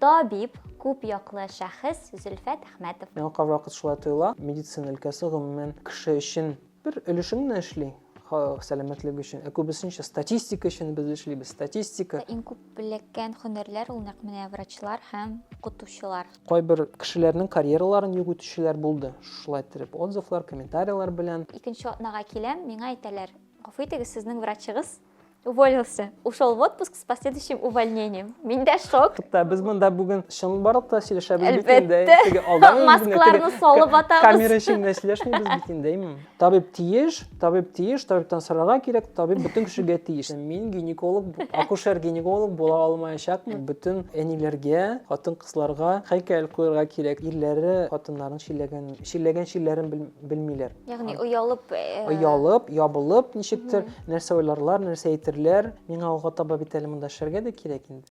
Табиб, күп яклы шәхес Зөлфәт Әхмәтов. Миңа кайвакыт шулай тоела. Медицина өлкәсе, гомумән, кеше өчен бер өлешен генә эшли, халык сәламәтлеге өчен. Ә күбесенчә статистика өчен без эшлибез, статистика. Иң күп эләккән һөнәрләр ул нәкъ менә врачлар һәм укытучылар. Кайбер кешеләрнең карьераларын юк итүчеләр булды, шулай итеп отзывлар, комментарияләр белән. Икенче атнага киләм, миңа әйтәләр, Гафу итегез, сезнең врачыгыз Уволился. Ушел в отпуск с последующим увольнением. Мин дә шок. Хәтта без монда бүген чын барлык та сөйләшәбез бит инде. Әлбәттә. Маскаларны салып атабыз. Камера эчендә сөйләшмибез бит инде, әйме? Табиб тиеш, табиб тиеш, табибтан сорарга кирәк, табиб бөтен кешегә тиеш. Мин гинеколог, акушер-гинеколог була алмаячакмын. Бөтен әниләргә, хатын-кызларга һәйкәл куярга кирәк. Ирләре хатыннарын чилләгән, чилләгән чилләрен белмиләр. Ягъни оялып, э, оялып, ябылып ничектер нәрсә уйларлар, нәрсә әйтерләр. Миңа алга таба бит әле монда эшләргә дә кирәк инде.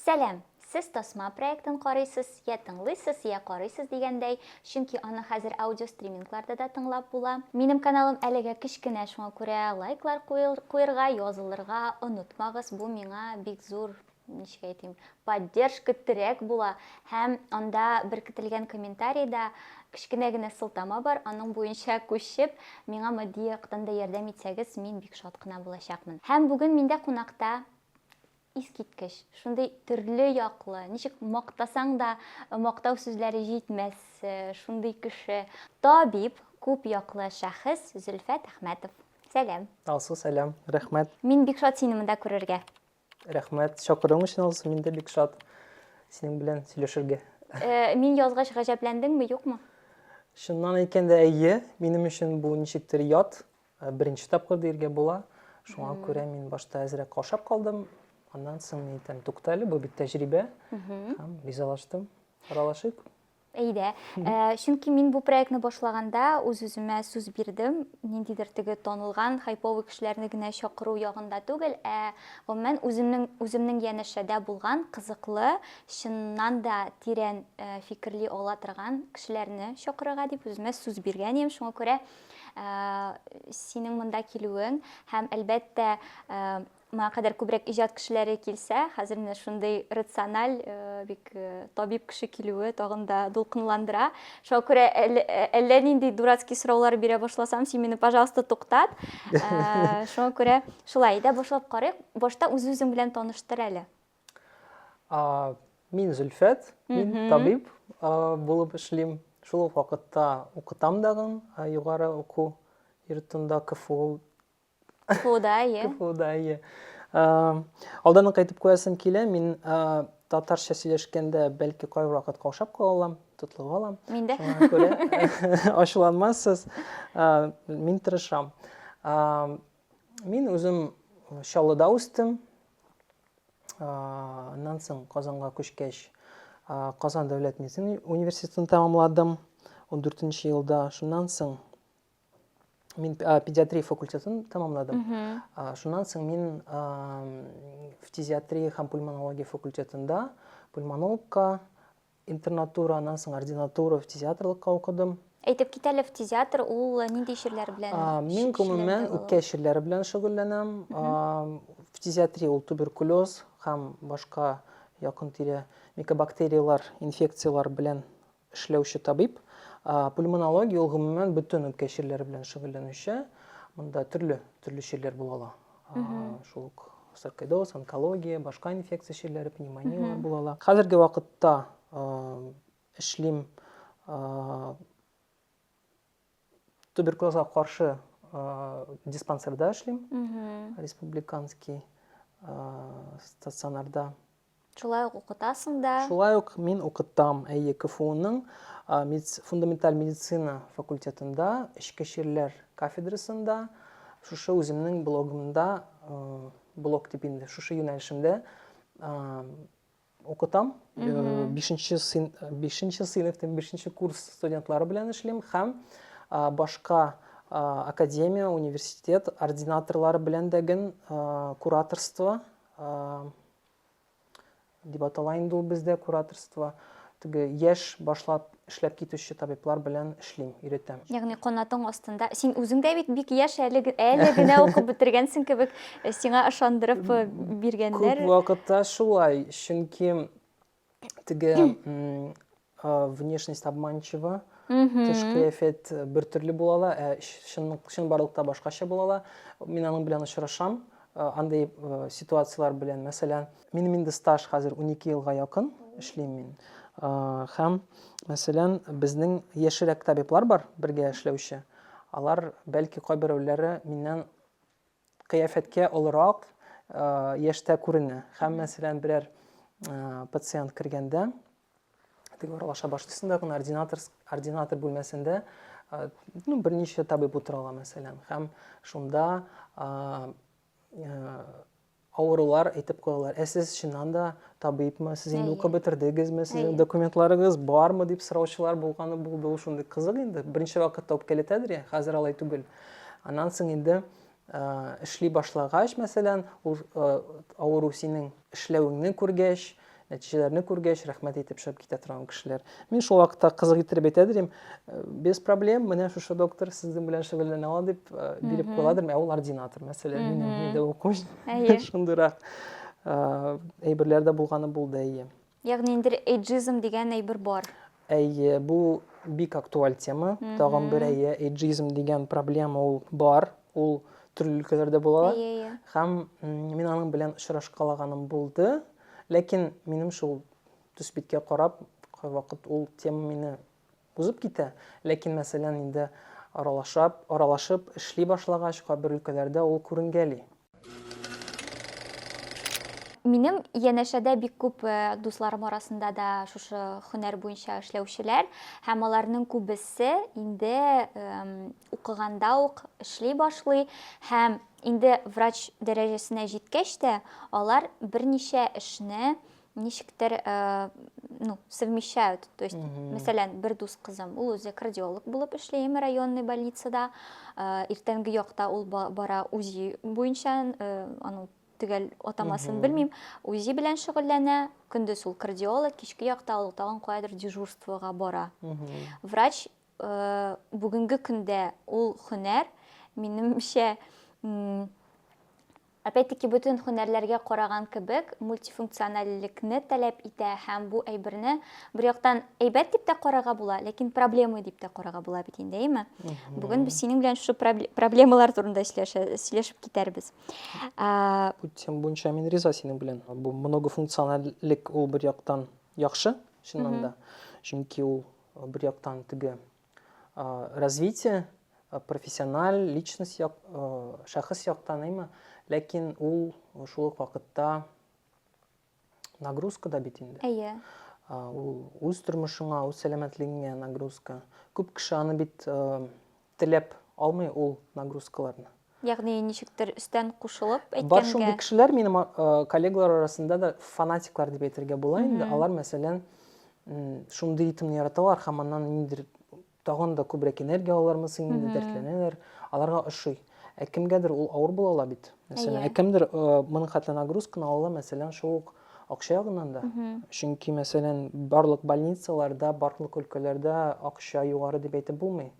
Сәлам! Сез тасма проектын карыйсыз, я тыңлыйсыз, я карыйсыз дигәндәй, чөнки аны хәзер аудиостримингларда да тыңлап була. Минем каналым әлегә кечкенә, шуңа күрә лайклар куерга, язылырга онытмагыз, бу миңа бик зур ничек әйтим, поддержка, терәк була һәм анда беркетелгән комментарида кечкенә генә сылтама бар, аның буенча күчеп, миңа матди яктан да ярдәм итсәгез, мин бик шат кына булачакмын. Һәм бүген миндә кунакта искиткеч, шундый төрле яклы, ничек мактасаң да мактау сүзләре җитмәс, шундый кеше, табиб, күп яклы шәхес Зөлфәт Әхмәтов. Сәлам. Алсу, сәлам. Рәхмәт. Мин бик шат сине монда күрергә. Рәхмәт чакыруың өчен алсу, мин дә бик шат синең белән сөйләшергә. Э, мин язгач гаҗәпләндеңме, юкмы? Чыннан әйткәндә, әйе, минем өчен бу ничектер ят, э, беренче тапкыр диергә була. Шуңа күрә мин башта әзрәк каушап калдым. Аннан соң мин әйтәм, туктале, бу бит тәҗрибә. Һәм ризалаштым. Аралашыйк. Әйдә. Ә, чөнки мин бу проектны башлаганда үз-үземә сүз бирдем, ниндидер теге танылган хайповый кешеләрне генә чакыру ягында түгел, ә гомумән үземнең үземнең янәшәдә булган кызыклы, чыннан да тирән ә, фикерли ала торган кешеләрне чакырырга дип үземә сүз биргән идем. Шуңа күрә ә, синең монда килүең һәм әлбәттә ә, моңа кадәр күбрәк иҗат кешеләре килсә, хәзер менә шундый рациональ, э, бик э, табиб кеше килүе тагын да дулкынландыра. Шуңа күрә әллә, әллә нинди дурацкий сораулар бирә башласам, син мине, пожалуйста, туктат. Э, шуңа күрә шулай да башлап карыйк. Башта үз-үзең белән таныштыр әле. А, мин Зөлфәт, мин табиб а, булып эшлим. Шул ук вакытта укытам дагын а, югары уку йортында КФУ КФУда, иә. КФУда, иә. Алданнан кайтып куясым килә, мин татарча сөйләшкәндә бәлки кай вакыт каушап калам, тотлыгып алам. Мин дә. Шуңа күрә ачуланмассыз. Мин тырышам. Мин үзем Чаллыда үстем. Аннан соң Казанга күчкәч, Казан дәүләт медицина университетын тәмамладым 14 елда. Шуннан соң мен педиатрия факультетін тамамладым шуннан соң мен фтизиатрия һәм пульмонология факультетында пульмонологка интернатура аннан соң ординатура фтизиатрлыкка укыдым әйтеп кит әле фтизиатр ул э, нинди чирләр белән э, мин гомумән үпкә чирләре белән шөгыльләнәм фтизиатрия ул туберкулез һәм башка якын тирә микобактериялар инфекциялар белән эшләүче табиб. Пульмонология ул гомумән бөтен үпкә чирләре белән шөгыльләнүче. Монда төрле төрле чирләр була ала. Шул ук саркоидоз, онкология, башка инфекция чирләре, пневмонияләр була ала. Хәзерге вакытта эшлим Туберкулезга каршы диспансерда эшлим. Республиканский стационарда. Шулай ук укытасың да? Шулай ук мин укытам, әйе, КФУның фундаменталь медицина факультетында, эчке чирләр кафедрасында, шушы үземнең блогымда, блог дип инде, шушы юнәлешемдә Укытам. Бишенче син, бишенче сыйныф, бишенче курс студентлары белән эшлим һәм башка академия, университет ординаторлары белән дә гел кураторство дип атала инде ул бездә кураторство. Теге яшь башлап Эшләп китүче табиблар белән эшлим, өйрәтәм. Ягъни канатың астында. Син үзең дә бит бик яшь әле, әле генә укып бетергәнсең кебек, э, сиңа ышандырып э, биргәннәр. Күп вакытта шулай, чөнки теге внешность обманчива, тыш кыяфәт э, бер төрле була ала, ә чын, чын барлыкта башкача була ала. Мин аның белән очрашам, андый ситуацияләр белән, мәсәлән, Минем инде стаж хәзер унике елга якын эшлим мин. Һәм, мәсәлән, безнең яшьрәк табиблар бар, бергә эшләүче. Алар, бәлки, кайберәүләре миннән кыяфәткә олырак яшьтә күренә. Һәм, мәсәлән, берәр пациент кергәндә, теге аралаша баштысында гына ординатор, ординатор бүлмәсендә ну, берничә табиб утыра ала, мәсәлән. Һәм шунда авырулар әйтеп куялар ә сез чыннан да табибмы сез инде укып бетердегезме сезнең документларыгыз бармы дип сораучылар булганы булды ул шундый кызык инде беренче вакытта үпкәләтәдер я хәзер алай түгел аннан соң инде эшли башлагач мәсәлән ул авыру синең эшләвеңне күргәч Нәтиҗәләрне күргәч, рәхмәт әйтеп чыгып китә торган кешеләр. Мин шул вакытта кызык иттереп әйтә дим, «Э, без проблем, менә шушы доктор сезнең белән шөгыльләнә ала дип э, биреп куя дидем, ә ул ординатор, мәсәлән, минем нидә уку. Әйе. Шундыйрак э, әйберләр дә булганы булды, әйе. Ягъни инде эйджизм дигән әйбер бар. Әйе, бу бик актуаль тема. Тагын бер әйе, эйджизм дигән проблема ул бар. Ул төрле өлкәләрдә була. Әйе, әйе. Һәм мин аның белән очрашкалаганым булды. Ләкин минем шул төсбиткә карап, кайвакыт ул тема мине узып китә. Ләкин, мәсәлән, инде аралашып, аралашып эшли башлагач, кайбер өлкәләрдә ул күренгәли. Минем янәшәдә бик күп э, дусларым арасында да шушы һөнәр буенча эшләүчеләр һәм аларның күбесе инде эм, укыганда ук эшли башлый һәм инде врач дәрәҗәсенә җиткәч тә алар берничә эшне ничектер э, ну, совмещают. То есть, мәсәлән, бер дус кызым, ул үзе кардиолог булып эшли Әмә районный больницада. Э, иртәнге якта ул бара УЗИ буенча, э, аның төгәл атамасын белмим, УЗИ белән шөгыльләнә, көндез ул кардиолог, кичке якта ул тагын каядыр дежурствога бара. Врач бүгенге көндә ул хөнәр, минемчә, Опять-таки бөтен һөнәрләргә караган кебек, мультифункциональлекне таләп итә һәм бу әйберне бер яктан әйбәт дип тә карарга була, ләкин проблема дип тә карарга була бит инде, әйме? Бүген без синең белән шушы проблемалар турында сөйләшеп китәрбез. Бу тема буенча мин риза синең белән. Бу многофункциональлек ул бер яктан яхшы, чыннан да. Чөнки ул бер яктан теге Э, развитие э, профессиональ личность як, э, шәхес яктаныймы ләкин ул шул ук вакытта нагрузка да бит инде әйе ул үз тормышыңа үз сәламәтлегеңә нагрузка күп кеше аны бит теләп алмый ул нагрузкаларны Ягъни ничектер өстән кушылып әйткәнгә. Бар шундый кешеләр минем коллегалар арасында да фанатиклар дип әйтергә була инде. Алар, мәсәлән, шундый ритмны яраталар һәм аннан ниндер тагын да күбрәк энергия алалармы соң инде дәртләнәләр. Аларга ошый. Ә кемгәдер ул авыр була ала бит. Мәсәлән, ә кемдер моның хәтле нагрузканы ала, мәсәлән, шул ук акча ягыннан да. Чөнки, мәсәлән, барлык больницаларда, барлык өлкәләрдә акча югары дип әйтеп булмый.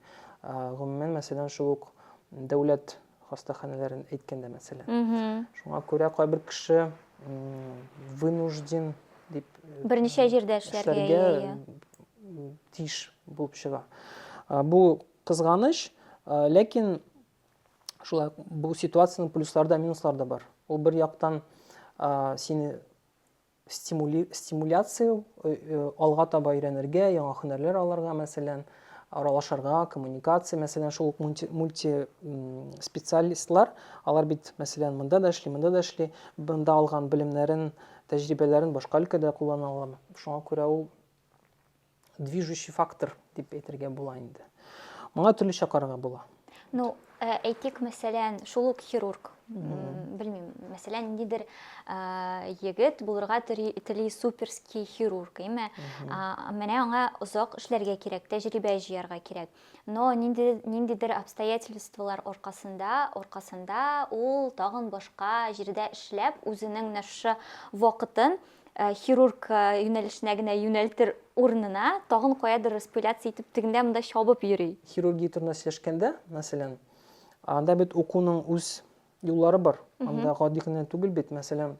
Гомумән, мәсәлән, шул ук Дәүләт хастаханәләрен әйткәндә, мәсәлән. Шуңа күрә кайбер кеше вынужден дип э, берничә җирдә эшләргә тиеш булып чыга. Бу кызганыч, ләкин шулай бу ситуациянең плюслары да, минуслары да бар. Ул бер яктан сине стимули, стимуляция, э, э, алга таба өйрәнергә, яңа һөнәрләр алырга, мәсәлән, аралашырга, коммуникация, мәсәлән, шул ук мульти, мульти специалистлар, алар бит, мәсәлән, монда да эшли, монда да эшли, монда алган белемнәрен, тәҗрибәләрен башка өлкәдә куллана ала. Шуңа күрә ул движущий фактор дип әйтергә була инде. Моңа төрлечә карарга була. Ну, э, әйтик, мәсәлән, шул ук хирург, белмим, мәсәлән, нидер э, егет булырга тели суперский хирург, име? Менә аңа озак эшләргә кирәк, тәҗрибә җыярга кирәк. Но нинди ниндидер обстоятельстволар аркасында, аркасында ул тагын башка җирдә эшләп, үзенең менә шушы вакытын Э, хирург э, юнәлешенә генә юнәлтер урынына тагын каядыр распыляться итеп тегендә монда чабып йөри хирургия турында сөйләшкәндә мәсәлән анда бит укуның үз юллары бар анда гади генә түгел бит мәсәлән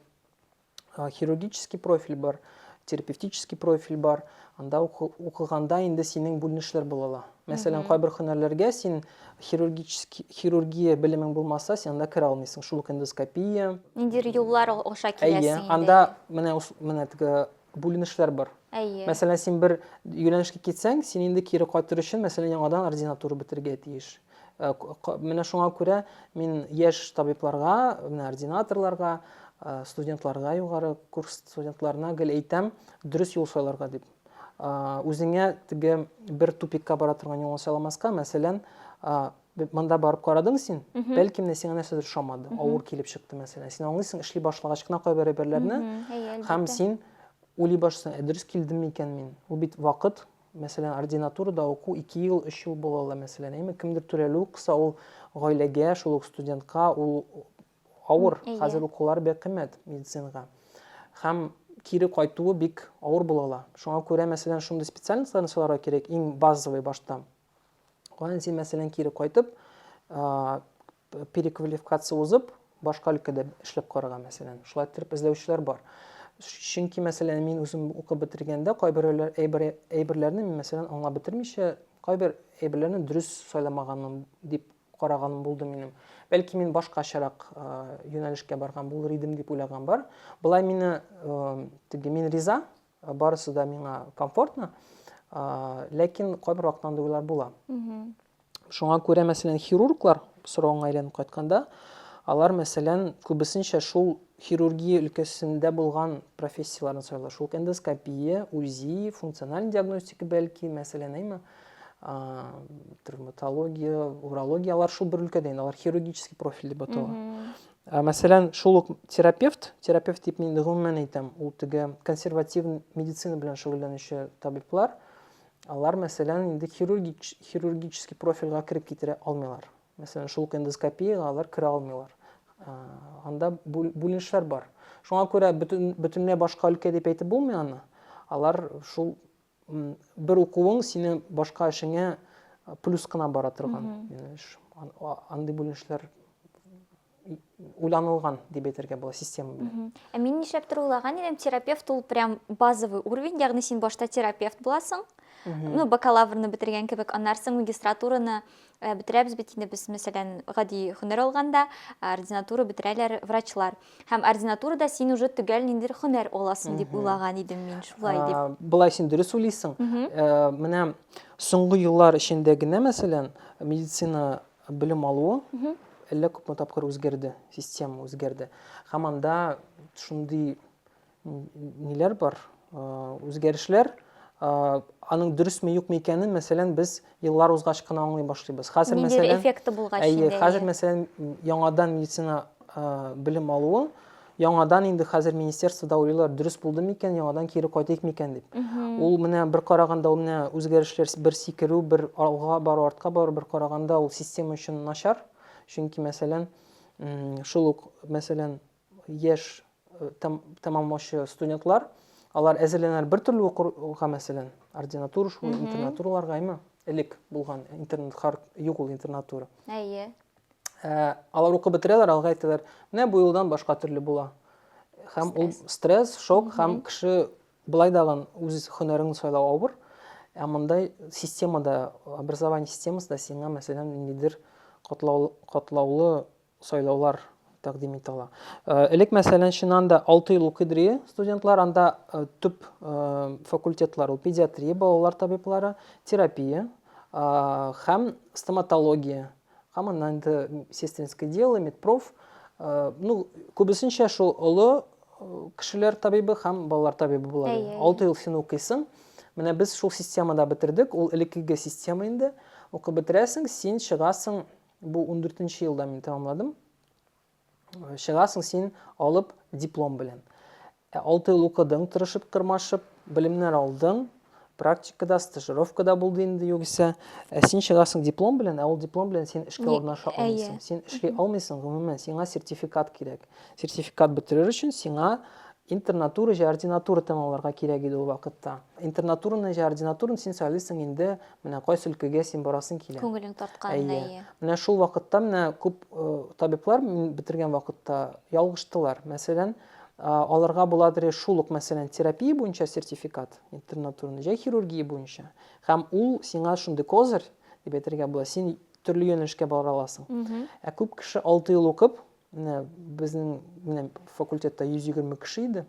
хирургический профиль бар терапевтический профиль бар анда укыганда инде синең бүленешләр була ала Мәсәлән, кайбер һөнәрләргә син хирургический хирургия белемең булмаса, син анда керә алмыйсың. Шул ук эндоскопия. Ниндидер юллар аша киләсең инде. Әйе, анда менә менә теге бүленешләр бар. Әйе. Мәсәлән, син бер юнәлешкә китсәң, син инде кире кайтыр өчен, мәсәлән, яңадан ординатура бетергә тиеш. Э, менә шуңа күрә мин яшь табибларга, менә ординаторларга, э, студентларга, югары курс студентларына гел әйтәм, дөрес юл сайларга дип. үзеңә теге бер тупикка бара торган юлны сайламаска, мәсәлән, монда барып карадың син, бәлки менә сиңа нәрсәдер ошамады, авыр килеп чыкты, мәсәлән. Син аңлыйсың, эшли башлагач кына кайбер әйберләрне, һәм син уйлый башлыйсың, ә дөрес килдем микән мин? Ул бит вакыт, мәсәлән, ординатурада уку 2 ел, 3 ел була ала, мәсәлән, әйме, кемдер түләлү кыса, ул гаиләгә, шул ук студентка, ул авыр. Әйе. Хәзер укулары бик кыйммәт медицинага. Һәм кире кайтуы бик авыр була ала. Шуңа күрә, мәсәлән, шундый специальностьларны сайларга кирәк, иң базовый башта. Аннан син, мәсәлән, кире кайтып, переквалификация узып, башка өлкәдә эшләп карарга, мәсәлән. Шулай итеп эзләүчеләр бар. Чөнки, мәсәлән, мин үзем укып бетергәндә кайбер әйберләрне, мәсәлән, аңлап бетермичә, кайбер әйберләрне дөрес сайламаганым дип караган булды минем. Бәлки мин башкачарак юнәлешкә барган булыр идем дип уйлаган бар. Болай мине теге мин риза, барысы да миңа комфортно. Ләкин кайбер вакытта андый уйлар була. Шуңа күрә, мәсәлән, хирурглар соравыңа әйләнеп кайтканда, алар, мәсәлән, күбесенчә шул хирургия өлкәсендә булган профессияләрне сайлый. Шул эндоскопия, УЗИ, функциональ диагностика бәлки, мәсәлән, әйме? травматология урология алар шул бер өлкәдә инде алар хирургический профиль дип атала мәсәлән шул ук терапевт терапевт дип мин гомумән әйтәм ул теге консервативный медицина белән шөгыльләнүче табиблар алар мәсәлән инде хирургический профильгә кереп китерә алмыйлар мәсәлән шул ук эндоскопияга алар керә алмыйлар анда бүленешләр бар шуңа күрә бөтен бөтенләй башка өлкә дип әйтеп булмый аны алар шул бер укуың сине башка эшеңә плюс кына бара торган андый бүленешләр уйланылган дип әйтергә була система белән ә мин нишләптер уйлаган идем терапевт ул прям базовый уровень ягъни син башта терапевт буласың ну бакалаврны бетергән кебек аннары соң магистратураны Э, бетерәбез бит инде без мәсәлән гади һөнәр алганда ординатура бетерәләр врачлар һәм ординатурада син уже төгәл ниндидер һөнәр аласың дип уйлаган идем мин шулай дип былай син дөрес уйлыйсың э, менә соңгы еллар эчендә генә мәсәлән медицина белем алуы әллә күпме тапкыр үзгәрде система үзгәрде һәм анда шундый ниләр бар, үзгәрешләр, аның дөресме юкмы икәнен, мәсәлән, без еллар узгач кына аңлый башлыйбыз. Хәзер мәсәлән, эффекты булгач инде. Әйе, хәзер мәсәлән, яңадан медицина белем алуы, яңадан инде хәзер министерствода уйлыйлар, дөрес булды микән, яңадан кире кайтыйк микән дип. Ул менә бер караганда ул менә үзгәрешләр бер сикерү, бер алга бару, артка бару, бер караганда ул система өчен начар. Чөнки мәсәлән, шул ук мәсәлән, Яшь тәмамлаучы студентлар, алар әзерләнәләр бер төрле укырга, мәсәлән, ординатура шул, интернатураларга, әйме? Элек булган интернат хар юк ул интернатура. Әйе. Ә, алар укып бетерәләр, алга әйтәләр, менә бу елдан башка төрле була. Һәм ул стресс, шок, һәм кеше былай дагын үз һөнәрен сайлау авыр. Ә мондай системада, образование системасында сиңа, мәсәлән, ниндидер катлаулы сайлаулар тәкъдим итә ала. Элек, мәсәлән, Чинанда алты ел укыдыры студентлар, анда төп факультетлар ул педиатрия, балалар табиблары, терапия һәм стоматология, һәм аннан инде сестринское дело, медпроф, ну, күбесенчә шул олы кешеләр табибы һәм балалар табибы була. Алты ел син укыйсың. Менә без шул системада бетердек, ул элеккеге система инде. Укып бетерәсең, син чыгасың Бу ундүртенче елда мин тәмамладым. Чыгасың син алып диплом белән. Ә алты ел укыдың, тырышып, тырмашып, белемнәр алдың, практикада, стажировкада булды инде югыйсә. Ә син чыгасың диплом белән, ә ул диплом белән син эшкә урнаша алмыйсың. Син эшли алмыйсың, гомумән, сиңа сертификат кирәк. Сертификат бетерер өчен сиңа интернатура җә ординатура тәмамларга кирәк иде ул вакытта. Интернатураны җә ординатураны син сайлыйсың инде Менә кайсы өлкәгә син барасың килә. Күңелең тарткан әйе. Менә шул вакытта менә күп э, табиблар мин бетергән вакытта ялгыштылар. Мәсәлән, аларга буладыр шул ук мәсәлән терапия буенча сертификат интернатурный җай хирургия буенча һәм ул сиңа шундый козырь дип әйтергә була син төрле юнәлешкә бара аласың ә күп кеше алты ел укып менә безнең менә факультетта 120 кеше иде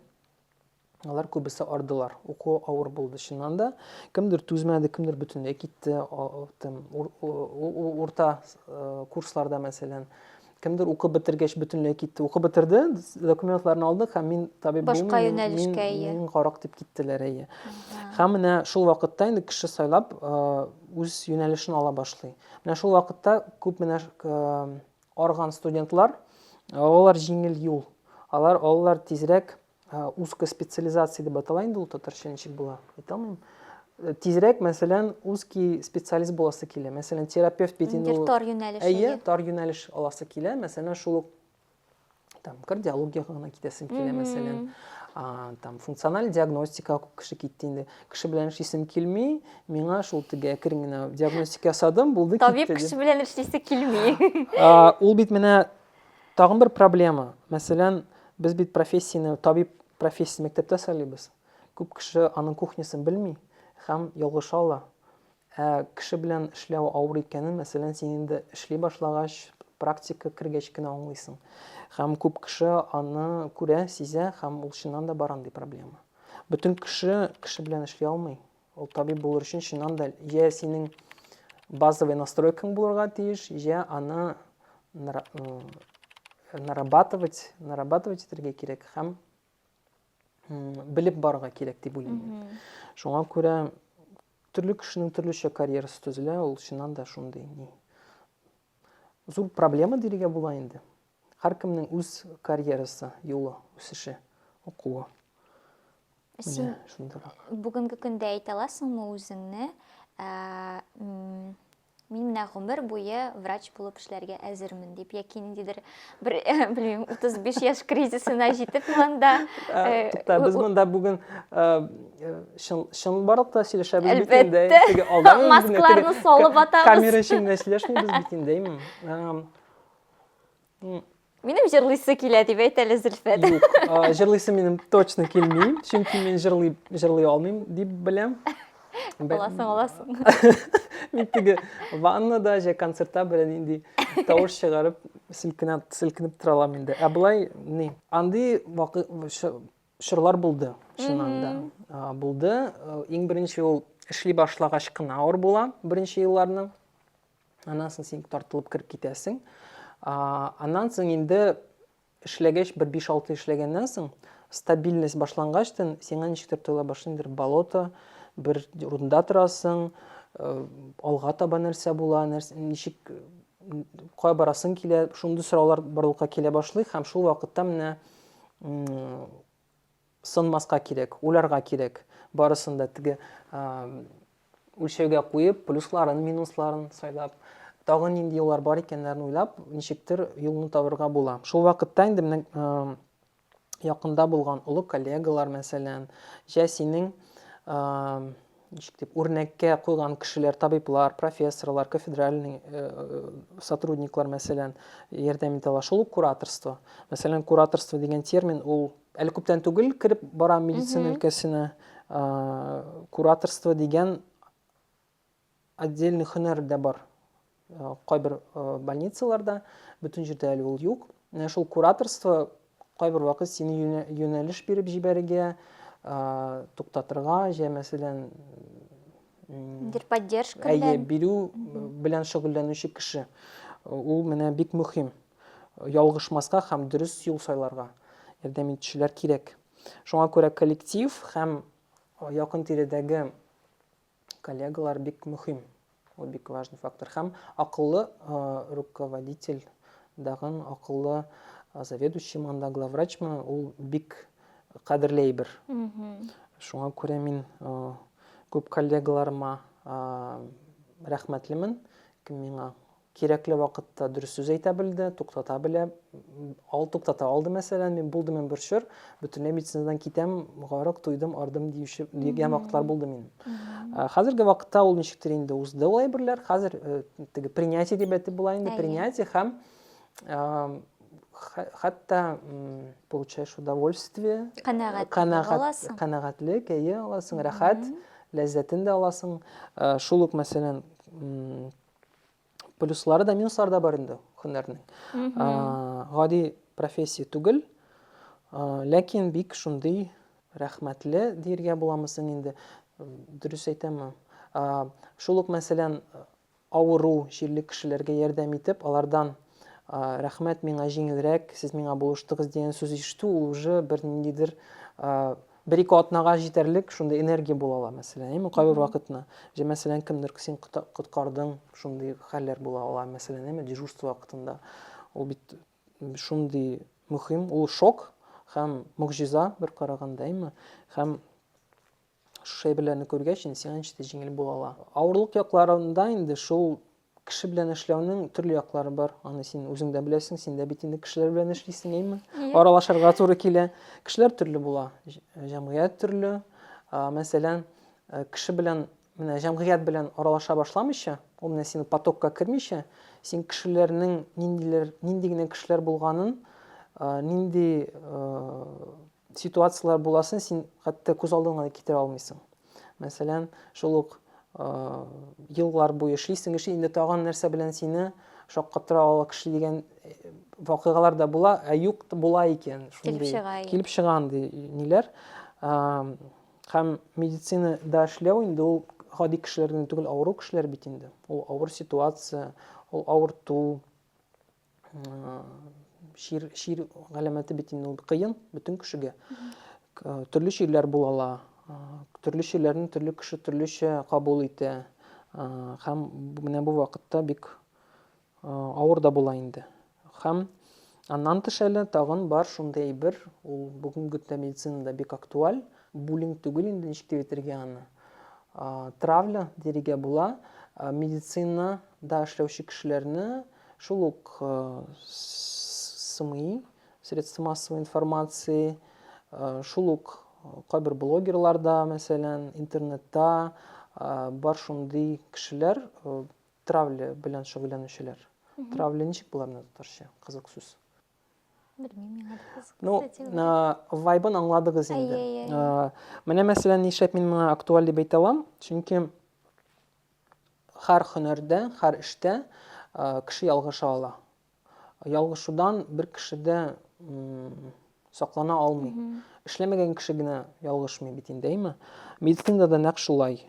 Алар күбесе ардылар. Уку авыр булды чыннан да. Кемдер түзмәде, кемдер бөтенләй китте. Тем, ур, урта э, курсларда, мәсәлән, кемдер укып бетергәч бөтенләй китте. Укып бетерде, документларын алдык һәм мин табиб Башка юнәлешкә ие. Мин карак дип киттеләр әйе. Һәм менә шул вакытта инде кеше сайлап э, үз юнәлешен ала башлый. Менә шул вакытта күп менә э, Арган студентлар, алар җиңел юл, алар алар тизрәк узкая специализация дип атала инде ул татарча ничек була, әйтә алмыйм. Тизрәк, мәсәлән, узкий специалист буласы килә. Мәсәлән, терапевт бит инде ул. Тар юнәлеш. Әйе, тар юнәлеш аласы килә. Мәсәлән, шул ук там кардиологияга гына китәсем килә мәсәлән а, там функциональ диагностика күп кеше китте инде кеше белән эшлисем килми миңа шул теге әкрен генә диагностика ясадым булды табиб китте, кеше белән эшлисе килми а, ул бит менә тагын бер проблема мәсәлән без бит профессияне табиб профессиясен мәктәптә сайлыйбыз күп кеше аның кухнясын белми һәм ялгыша ала Ә кеше белән эшләү авыр икәнен, мәсәлән, син инде эшли башлагач, практика кергәч кенә аңлыйсың. Һәм күп кеше аны күрә, сизә һәм ул чыннан да бар андый проблема. Бөтен кеше кеше белән эшли алмый. Ул табиб булыр өчен чыннан да йә синең базовый настройкаң булырга тиеш, йә аны нарабатывать, нарабатывать итәргә кирәк һәм белеп барырга кирәк дип уйлыйм. Шуңа күрә Төрле кешенең төрлечә карьерасы төзелә, ул чыннан да шундый ни. Зур проблема диергә була инде. Һәркемнең үз карьерасы, юлы, үсеше, укуы. Син шундыйрак. Бүгенге көндә әйтә аласыңмы үзеңне, мин менә гомер буе врач булып эшләргә әзермен дип, яки ниндидер бер, белмим, 35 яшь кризисына җитеп монда. Э, Тукта, без монда бүген э, э, чын барлыкта сөйләшәбез бит инде. Әлбәттә. Маскларны салып атабыз. Камера эчендә сөйләшмибез бит инде. Минем җырлыйсы килә дип әйт әле, Зөлфәт. Юк, а, җырлыйсы минем точно килми, чөнки мин җырлый, җырлый алмыйм дип беләм. Бе- Аласың, аласың. Мин теге ваннада, же концертта белән нинди тавыш чыгарып, селкенә, селкенеп тора алам инде. Ә болай, ни, андый вакы, ш- чорлар булды, чыннан да. А, Булды. Э, Иң беренче ул эшли башлагач кына авыр була, беренче елларны. Аннан соң син тартылып кереп китәсең. Аннан соң инде эшләгәч, бер 5-6 эшләгәннән соң, стабильность башлангачтын, сиңа ничектер тоела башлый, бер болото, бер рунда торасың, э, алга таба нәрсә була, нәрсә, ничек кая барасың килә, шундый сораулар барлыкка килә башлый һәм шул вакытта менә Сынмаска кирәк, уйларга кирәк. Барысын да теге үлчәүгә куеп, плюсларын, минусларын сайлап, тагын нинди юллар бар икәннәрен уйлап, ничектер юлны табырга була. Шул вакытта инде менә якында булган олы коллегалар, мәсәлән, җә синең ничек дип, үрнәккә куйган кешеләр, табиблар, профессорлар, кафедральный э, сотрудниклар, мәсәлән, ярдәм итә ала. Шул ук кураторство. Мәсәлән, кураторство дигән термин ул әле күптән түгел кереп бара медицина өлкәсенә. Кураторство дигән отдельный һөнәр дә бар. Кайбер больницаларда бөтен җирдә әле ул юк. Менә шул кураторство кайбер вакыт сине юнәлеш биреп җибәрергә, туктатырга, җә мәсәлән, дир поддержка белән. Әйе, бирү белән шөгыльләнүче кеше. Ул менә бик мөһим. Ялгышмаска һәм дөрес юл сайларга ярдәм итүчеләр кирәк. Шуңа күрә коллектив һәм якын тирәдәге Коллегалар бик мөһим. Ул бик важный фактор. Һәм акыллы руководитель дагын акыллы заведующий манда главврачмы ул бик кадерле әйбер. Шуңа күрә мин күп коллегаларыма рәхмәтлемен, кем миңа Кирәкле вакытта дөрес сүз әйтә белде, туктата белә. Ал туктата алды, мәсәлән, мин булды мен бер чор, бөтенләй медицинадан китәм, гарык туйдым, ардым диюче дигән вакытлар булды мин. Хәзерге вакытта ул ничектер инде узды ул әйберләр. Хәзер э, теге принятие дип әйтеп була инде, принятие һәм хәтта получаешь удовольствие канәгатьлек әйе аласың рәхәт ләззәтен дә аласың э, шул ук мәсәлән плюслары да минуслары да бар инде һөнәрнең гади профессия түгел ләкин бик шундый рәхмәтле диергә буламы соң инде дөрес әйтәме шул ук мәсәлән авыру җирле кешеләргә ярдәм итеп алардан рәхмәт миңа җиңелрәк сез миңа булыштыгыз дигән сүз ишетү ул уже бер ниндидер Бер-ике атнага җитәрлек шундый энергия була ала, мәсәлән, әйеме, кайбер вакытны. Җә, мәсәлән, кемдер син коткардың, шундый хәлләр була ала, мәсәлән, әйеме, дежурство вакытында. Ул бит шундый мөһим, ул шок һәм могҗиза бер караганда, әйеме? Һәм шушы әйберләрне күргәч, инде сиңа ничектер җиңел була ала. Авырлык якларында инде шул Кеше белән эшләүнең төрле яклары бар. Аны син үзең дә беләсең, син дә бит инде кешеләр белән эшлисең, әйме? Аралашырга туры килә. Кешеләр төрле була, җәмгыять төрле. Мәсәлән, э, кеше белән менә җәмгыять белән аралаша башламыйча, ул менә синең потокка кермичә, син кешеләрнең ниндиләр, нинди генә кешеләр булганын, э, нинди э, ситуацияләр буласын син хәтта күз алдыңа да китерә алмыйсың. Мәсәлән, шул ук еллар буе эшлисең, эшли, инде тагын нәрсә белән сине шаккатыра ала кеше дигән вакыйгалар да була, ә юк була икән. Килеп чыга. Килеп чыга андый ниләр. Һәм медицина да эшләү инде ул гади кешеләрдән түгел, авыру кешеләр бит инде. Ул авыр ситуация, ул авырту, Шир, шир галәмәте бит инде ул кыен бөтен кешегә. Төрле ширләр була ала. Төрле ширләрне төрле кеше төрлечә кабул итә. Һәм менә бу вакытта бик авыр да була инде. Һәм аннан тыш әле тагын бар шундый әйбер, ул бүгенге көндә медицинада бик актуаль, буллинг түгел инде ничек дип әйтергә аны. Травля дирегә була медицинада эшләүче кешеләрне Шул ук СМИ, средства массовой информации, шул ук кайбер блогерлар да, мәсәлән, интернетта бар шундый кешеләр, травля белән шөгыльләнүчеләр. Травля ничек була менә татарча? Кызык сүз. Белмим миңа кызык. Ну, вайбын аңладыгыз инде. Менә мәсәлән, нишләп мин моны актуаль дип әйтә алам? Чөнки Хәр хөнәрдә, хәр эштә кеше ялгыша ала. Ялгышудан бер кеше дә саклана алмый. Эшләмәгән кеше генә ялгышмый бит инде, әйме? Медицинада да нәкъ шулай.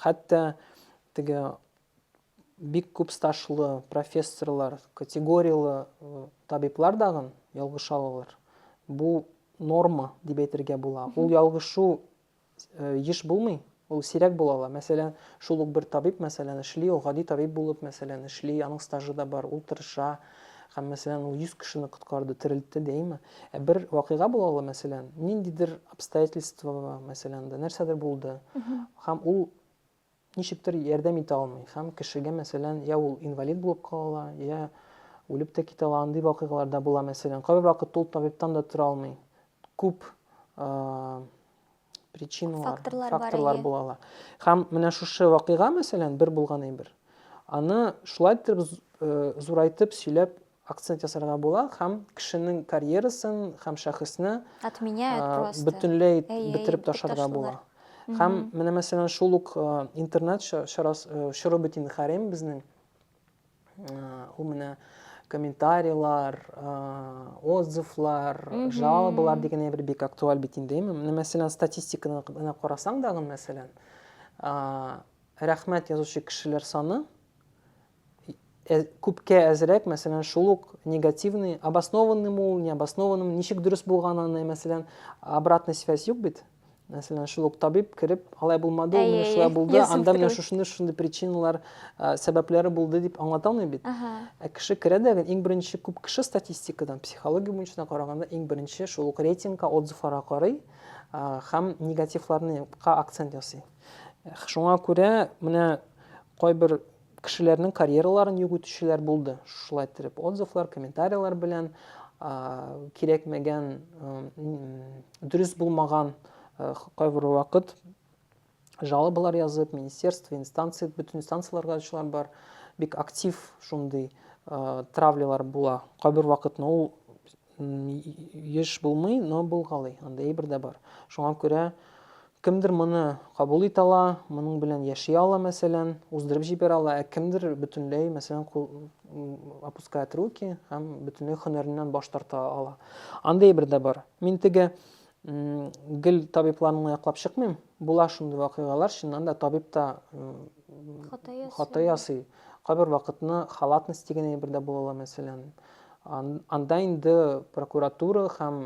Хәтта теге бик күп стажлы профессорлар, категорияле табиблар дагын ялгыша алалар. Бу норма дип әйтергә була. Ул ялгышу еш булмый, ул сирәк була ала. Мәсәлән, шул ук бер табиб, мәсәлән, эшли, ул гади табиб булып, мәсәлән, эшли, аның стажы да бар, ул тырыша, һәм, мәсәлән, ул 100 кешене коткарды, терелтте, дәйме? Ә бер вакыйга була ала, мәсәлән, ниндидер обстоятельство, мәсәлән, дә нәрсәдер булды, һәм ул ничектер ярдәм итә алмый һәм кешегә, мәсәлән, я ул инвалид булып кала ала, я үлеп тә китә ала, андый вакыйгалар да була, мәсәлән. Кайбер вакыт ул табибтан да тора алмый. Күп причиналар, факторлар, факторлар була ала. Һәм менә шушы вакыйга, мәсәлән, бер булган әйбер. Аны шулай итеп зурайтып сөйләп акцент ясарга була һәм кешенең карьерасын һәм шәхесне Отменяет а, просто. бөтенләй Әй, әй, бетереп бик ташларга ташлыйлар. була. Һәм менә мәсәлән шул ук а, интернет ча- чарас- э, чоры бөтен хәрем безнең а, ул менә комментарийлар, а, отзывлар, жалобалар дигән әйбер бик актуаль бит инде. Әйме? Менә мәсәлән статистиканы гына карасаң дагы мәсәлән, а, рәхмәт язучы кешеләр саны ә, күпкә әзрәк, мәсәлән, шул ук негативный, обоснованный мул, не обоснованный, ничек дөрес булган аны, мәсәлән, обратный связь юк бит. Мәсәлән, шул ук табиб кереп, алай булмады, ул менә шулай булды, анда менә шушындый шушындый причиналар, сәбәпләре булды дип аңлата алмый бит. Ә кеше керә дә, иң беренче күп кеше статистикадан, психология буенча караганда, иң беренче шул ук рейтингка, отзывларга карый һәм негативларны акцент ясый. Шуңа күрә менә кайбер кешеләрнең карьераларын юк итүчеләр булды. Шулай иттереп отзывлар, комментарияләр белән кирәкмәгән, дөрес булмаган кайбер вакыт жалобалар язып, министерство, инстанция, бөтен инстанцияләргә ачулар бар. Бик актив шундый травлялар була. Кайбер вакытны ул Еш булмый, но булгалый, андый әйбер дә бар. Шуңа күрә кемдер моны кабул итә ала, моның белән яши ала, мәсәлән, уздырып җибәрә ала, ә кемдер бөтенләй, мәсәлән, опускает руки һәм бөтенләй һөнәреннән баш тарта ала. Андый әйбер дә бар. Мин теге гел табибларны яклап чыкмыйм. Була шундый вакыйгалар, чыннан да табиб та Хата ясый. Хата ясый. Кайбер вакытны халатность дигән әйбер дә була ала, мәсәлән. Анда инде прокуратура һәм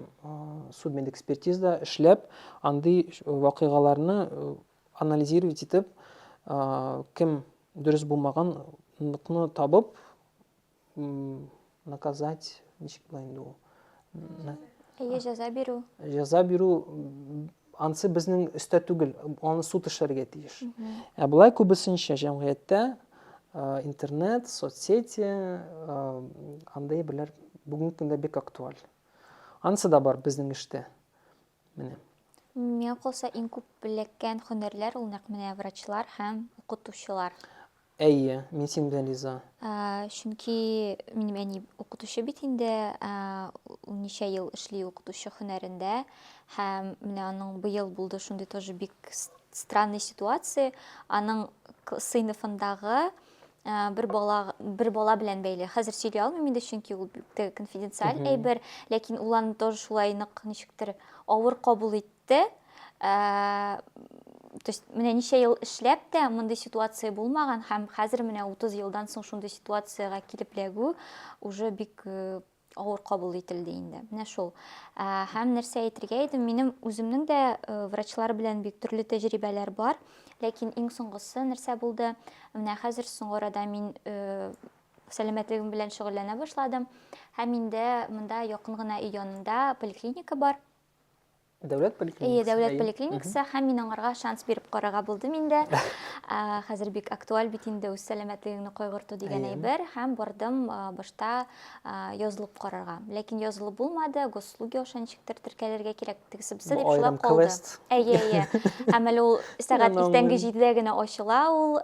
судмедэкспертиза эшләп, андый вакыйгаларны анализировать итеп, кем дөрес булмаган, табып, наказать ничек була инде ул әйе җәза бирү җәза бирү анысы безнең өстә түгел аны суд эшләргә тиеш ә болай күбесенчә җәмгыятьтә интернет соцсети андай берләр бүгенге көндә бик актуаль анысы да бар безнең эштә Менә. Миңа калса, иң күп эләккән хөнәрләр ул нәкъ менә врачлар һәм укытучылар. Әйе, мин синең белән риза. Чөнки минем әни укытучы бит инде, ул ничә ел эшли укытучы хөнәрендә. Һәм менә аның быел булды шундый тоже бик странный ситуация. Аның сыйныфындагы бер бала бер бала белән бәйле хәзер сөйли алмыйм инде чөнки ул бик тә конфиденциаль әйбер ләкин ул аны тоже шулай нык ничектер авыр кабул итте то есть менә ничә ел эшләп тә мондый ситуация булмаган һәм хәзер менә 30 елдан соң шундый ситуациягә килеп эләгү уже бик авыр кабул ителде инде. Менә шул. Ә, һәм нәрсә әйтергә идем, минем үземнең дә э, врачлар белән бик төрле тәҗрибәләр бар. Ләкин иң соңгысы нәрсә булды? Менә хәзер соңгы арада мин э, сәламәтлегем белән шөгыльләнә башладым. Һәм инде монда якын гына өй янында поликлиника бар. Дәүләт поликлиникасы. Әйе, дәүләт поликлиникасы һәм мин аңарга шанс биреп карарга булдым инде. Хәзер бик актуаль бит инде үз сәламәтлегеңне кайгырту дигән әйбер һәм бардым башта язылып карарга. Ләкин язылып булмады, госуслуги аша ничектер теркәлергә кирәк тегесе бусы дип шулай калды. Әйе, әйе. Һәм әле ул сәгать иртәнге 7-дә генә ачыла ул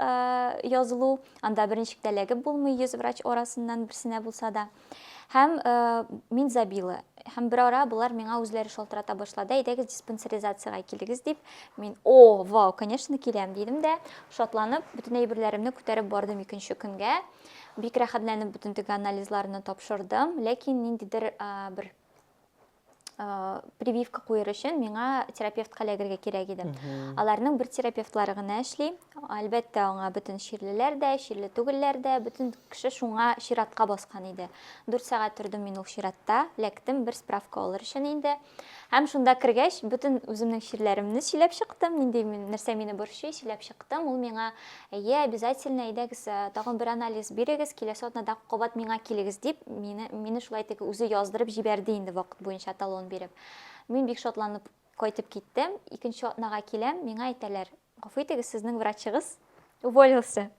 язылу. Анда берничек тә эләгеп булмый, 100 врач арасыннан берсенә булса да. Һәм э, мин забила. Һәм бер ара болар миңа үзләре шалтырата башлады, әйдәгез диспансеризациягә килегез дип. Мин, о, вау, конечно, киләм, дидем дә, шатланып, бөтен әйберләремне күтәреп бардым икенче көнгә. Бик рәхәтләнеп бөтен теге анализларны тапшырдым, ләкин ниндидер э, бер Э, прививка куер өчен миңа терапевтка эләгергә кирәк иде аларның бер терапевтлары гына эшли әлбәттә аңа бөтен чирлеләр дә чирле түгелләр дә бөтен кеше шуңа чиратка баскан иде дүрт сәгать тордым мин ул чиратта ләктем бер справка алыр өчен инде һәм шунда кергәч бөтен үземнең чирләремне сөйләп чыктым нинди нәрсә мине борчый сөйләп чыктым ул миңа Әйе, обязательно, әйдәгез, э, тагын бер анализ бирегез, киләсе атнада кабат миңа килегез, дип, мине, мине шулай теге үзе яздырып җибәрде инде вакыт буенча талон биреп. Мин бик шатланып кайтып киттем, икенче атнага киләм, миңа әйтәләр, гафу итегез, сезнең врачыгыз уволился.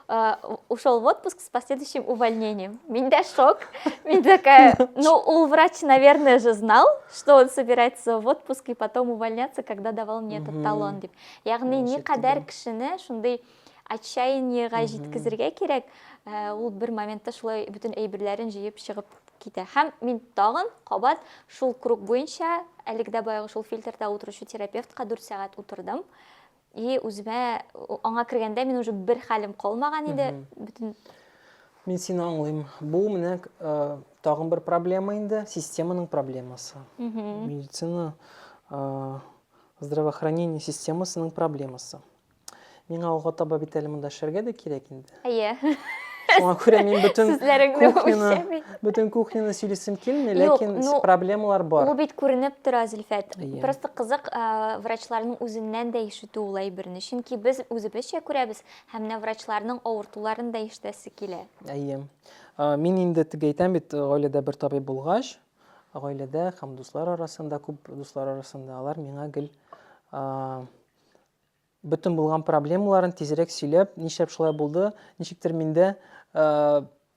Э, ушел в отпуск с последующим увольнением. Миндя шок. Мин такая, ну, ул врач, наверное, же знал, что он собирается в отпуск и потом увольняться, когда давал мне этот талон. Деп. Ягъни никадәр кешене шундый отчаяниега җиткезергә кирәк, э, ул бер моментта шулай бөтен әйберләрен җыеп чыгып китә. Һәм мин тагын кабат шул круг буенча, әлеге дә баягы шул фильтрда утыручы терапевтка 4 сәгать утырдым. И үземә аңа кергәндә мин уже бер хәлем калмаган иде. Бөтен Мин сине аңлыйм. Бу менә э, тагын бер проблема инде, системаның проблемасы. Медицина э, Здравоохранение системасының проблемасы. Миңа алга таба бит әле монда эшләргә дә кирәк инде. Әйе. Шуңа күрә мин бөтен кухняны, бөтен кухняны сөйлисем килми, ләкин ну, проблемалар бар. Ул бит күренеп тора, Зөлфәт. Yeah. Просто кызык ә, врачларның үзеннән дә ишетү ул әйберне. Чөнки без үзебезчә күрәбез һәм менә врачларның авыртуларын да ишетәсе килә. Әйе. Мин инде теге әйтәм бит, гаиләдә бер табиб булгач, гаиләдә һәм дуслар арасында, күп дуслар арасында алар миңа гел бөтен булган проблемаларын тизрәк сөйләп, нишләп шулай булды, ничектер миндә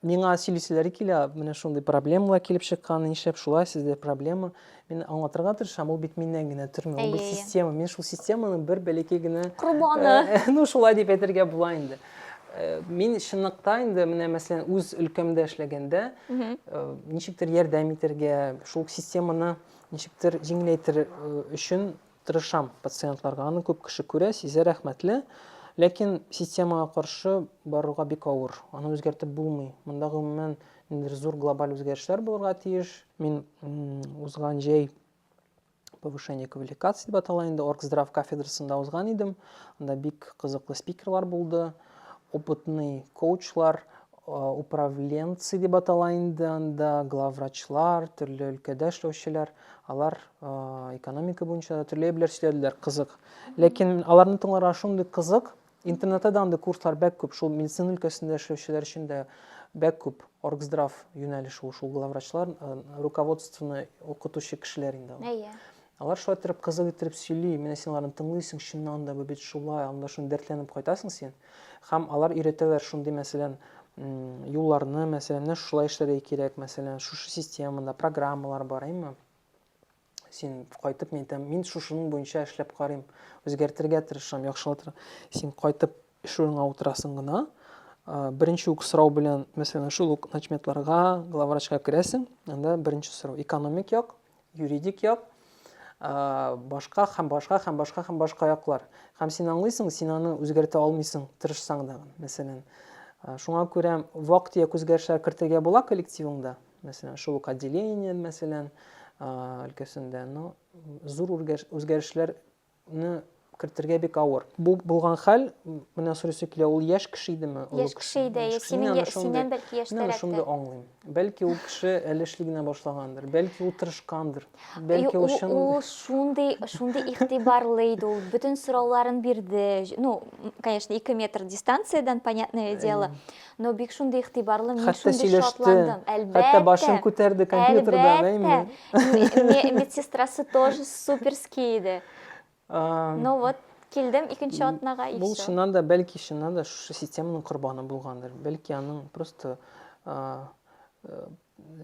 миңа сөйлиселәре килә, менә шундый проблемалар килеп чыккан, нишләп шулай, сездә проблема. Мин аңлатырга тырышам, ул бит миннән генә тормый, ул бит система. Мин шул системаның бер бәләкәй генә корбаны. Ну, шулай дип әйтергә була инде. Мин чынлыкта инде менә мәсәлән үз өлкәмдә эшләгәндә ничектер ярдәм итәргә, шул системаны ничектер җиңеләйтер өчен тырышам пациентларга. Аны күп кеше күрә, сизә рәхмәтле. Ләкин системага каршы барырга бик авыр. Аны үзгәртеп булмый. Монда гомумән ниндидер зур глобаль үзгәрешләр булырга тиеш. Мин узган җәй повышение квалификации дип атала инде оргздрав кафедрасында узган идем анда бик кызыклы спикерлар булды опытный коучлар управленцы дип атала инде анда главврачлар төрле өлкәдә эшләүчеләр алар экономика буенча да төрле әйберләр сөйләделәр кызык ләкин аларны тыңларга шундый кызык Интернетта да андый курслар бәк күп, шул медицина өлкәсендә эшләүчеләр өчен дә бәк күп. Оргздрав юнәлеше ул, шул главврачлар, э, руководствоны укытучы кешеләр инде алар. Әйе. Алар шулай иттереп кызык иттереп сөйли, менә син аларны тыңлыйсың, чыннан да бу бит шулай, анда шуны дәртләнеп кайтасың син. Һәм алар өйрәтәләр шундый, мәсәлән, м, юлларны, мәсәлән, менә шулай эшләргә кирәк, мәсәлән, шушы системада программалар бар, әйеме? син кайтып мин әйтәм мин шушының буенча эшләп карыйм үзгәртергә тырышам яхшылатыр син кайтып эш урыныңа утырасың гына беренче үк сорау белән мәсәлән шул ук начметларга главврачка керәсең анда беренче сорау экономик як юридик як башка һәм башка һәм башка һәм башка яклар һәм син аңлыйсың син аны үзгәртә алмыйсың тырышсаң да мәсәлән шуңа күрә вак төяк үзгәрешләр кертергә була коллективыңда мәсәлән, шул ук отделение, мәсәлән, өлкәсендә, но зур үзгәрешләрне кертергә бик авыр. Бу булган хәл, менә сорыйсы килә, ул яшь кеше идеме? Яшь кеше иде, синнән бәлки яшьтәрәк. Мин шундый аңлыйм. Бәлки ул кеше әле эшли генә башлагандыр, бәлки ул тырышкандыр, бәлки ул чын. Ул шундый, шундый игътибарлы иде ул, бөтен сорауларын бирде. Ну, конечно, 2 метр дистанциядән, понятное дело. Но бик шундый игътибарлы, мин Хәтта шундый сөйләште, шатландым. Әлбәттә. Хәтта башын күтәрде компьютердан, әйме? Әлбәттә. Медсестрасы тоже суперский иде. Ну вот, килдем икенче атнага и все. Бу чыннан да, бәлки чыннан да шушы системаның корбаны булгандыр. Бәлки аның просто э,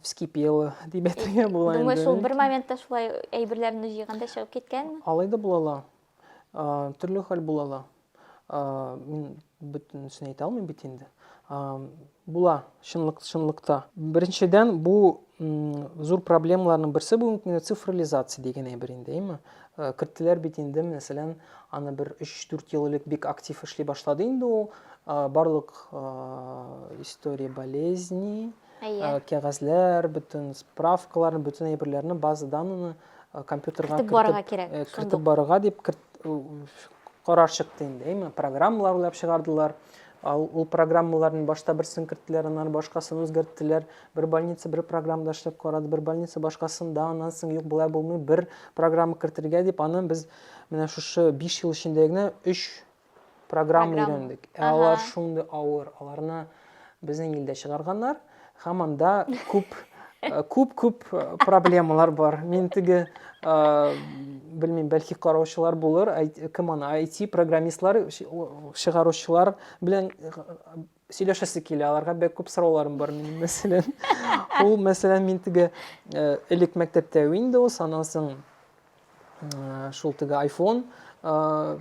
вскипела дип әйтергә була инде. Думаю, шул бер моментта шулай әйберләрне җыйганда чыгып киткәнме? Алай да була ала. Төрле хәл була ла. Мин бөтенесен әйтә алмыйм бит инде. Була, чынлык, чынлыкта. Беренчедән, бу зур проблемаларның берсе бүгенге көндә цифрализация дигән әйбер инде, әйме? Керттеләр бит инде, мәсәлән, аны бер 3-4 ел элек бик актив эшли башлады инде ул барлык история болезни, кәгазьләр, бөтен справкаларны, бөтен әйберләрне, база данныны Э, компьютерга кертеп барырга кирәк э, кертеп барырга дип карар чыкты инде әйме программалар уйлап чыгардылар ал ул программаларның башта берсен керттеләр аннан башкасын үзгәрттеләр бер больница бер программада эшләп карады бер больница башкасында аннан соң юк болай булмый бер программа кертергә дип аны без менә шушы биш ел эчендә генә өч программа өйрәндек. Ә алар шундый авыр, аларны безнең илдә чыгарганнар һәм анда күп күп-күп э, э, проблемалар бар. Мин теге э, белмим, бәлки караучылар булыр, кем аны IT программистлар, чыгаручылар белән сөйләшәсе килә аларга бик күп сорауларым бар минем мәсәлән ул мәсәлән мин теге э, элек мәктәптә windows аннан соң э, шул теге iphone э,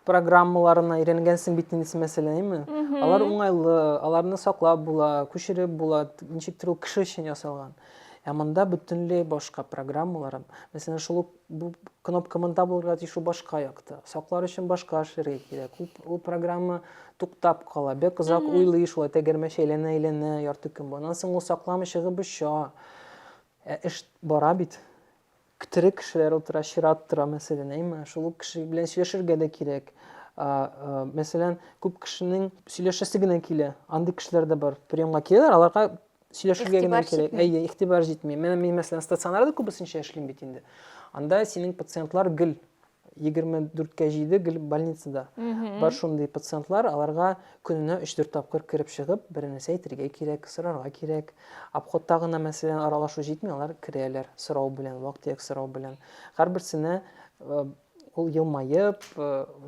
программаларына өйрәнгәнсең бит инде мәсәләме алар уңайлы аларны саклап була күчереп була ничектер ул кеше өчен ясалган ә монда бөтенләй башка программалар мәсәлән шул ук Бу кнопка монда булырга тиеш, ул башка якта. Саклар өчен башка эшләргә кирәк. Ул, ул программа туктап кала. Бик озак уйлый шулай, тәгәрмәч әйләнә-әйләнә ярты көн. Аннан соң ул сакламы чыгып оча. Ә эш бара бит. Тере кешеләр утыра, чират тора, мәсәлән, әйме? Шул кеше белән сөйләшергә дә кирәк. Мәсәлән, күп кешенең сөйләшәсе генә килә. Андый кешеләр дә бар. Приемга киләләр, аларга сөйләшергә генә кирәк. Әйе, игътибар җитми. Менә мин мәсәлән стационарда күбесенчә эшлим бит инде. Анда синең пациентлар гел 24-кә 7 гел больницада. Бар шундый пациентлар, аларга көненә 3-4 тапкыр кереп чыгып, бернәрсә әйтергә кирәк, сорарга кирәк. Обходта гына мәсәлән аралашу җитми, алар керәләр сорау белән, вак-төяк сорау белән. Һәрберсенә э, Ул елмаеп,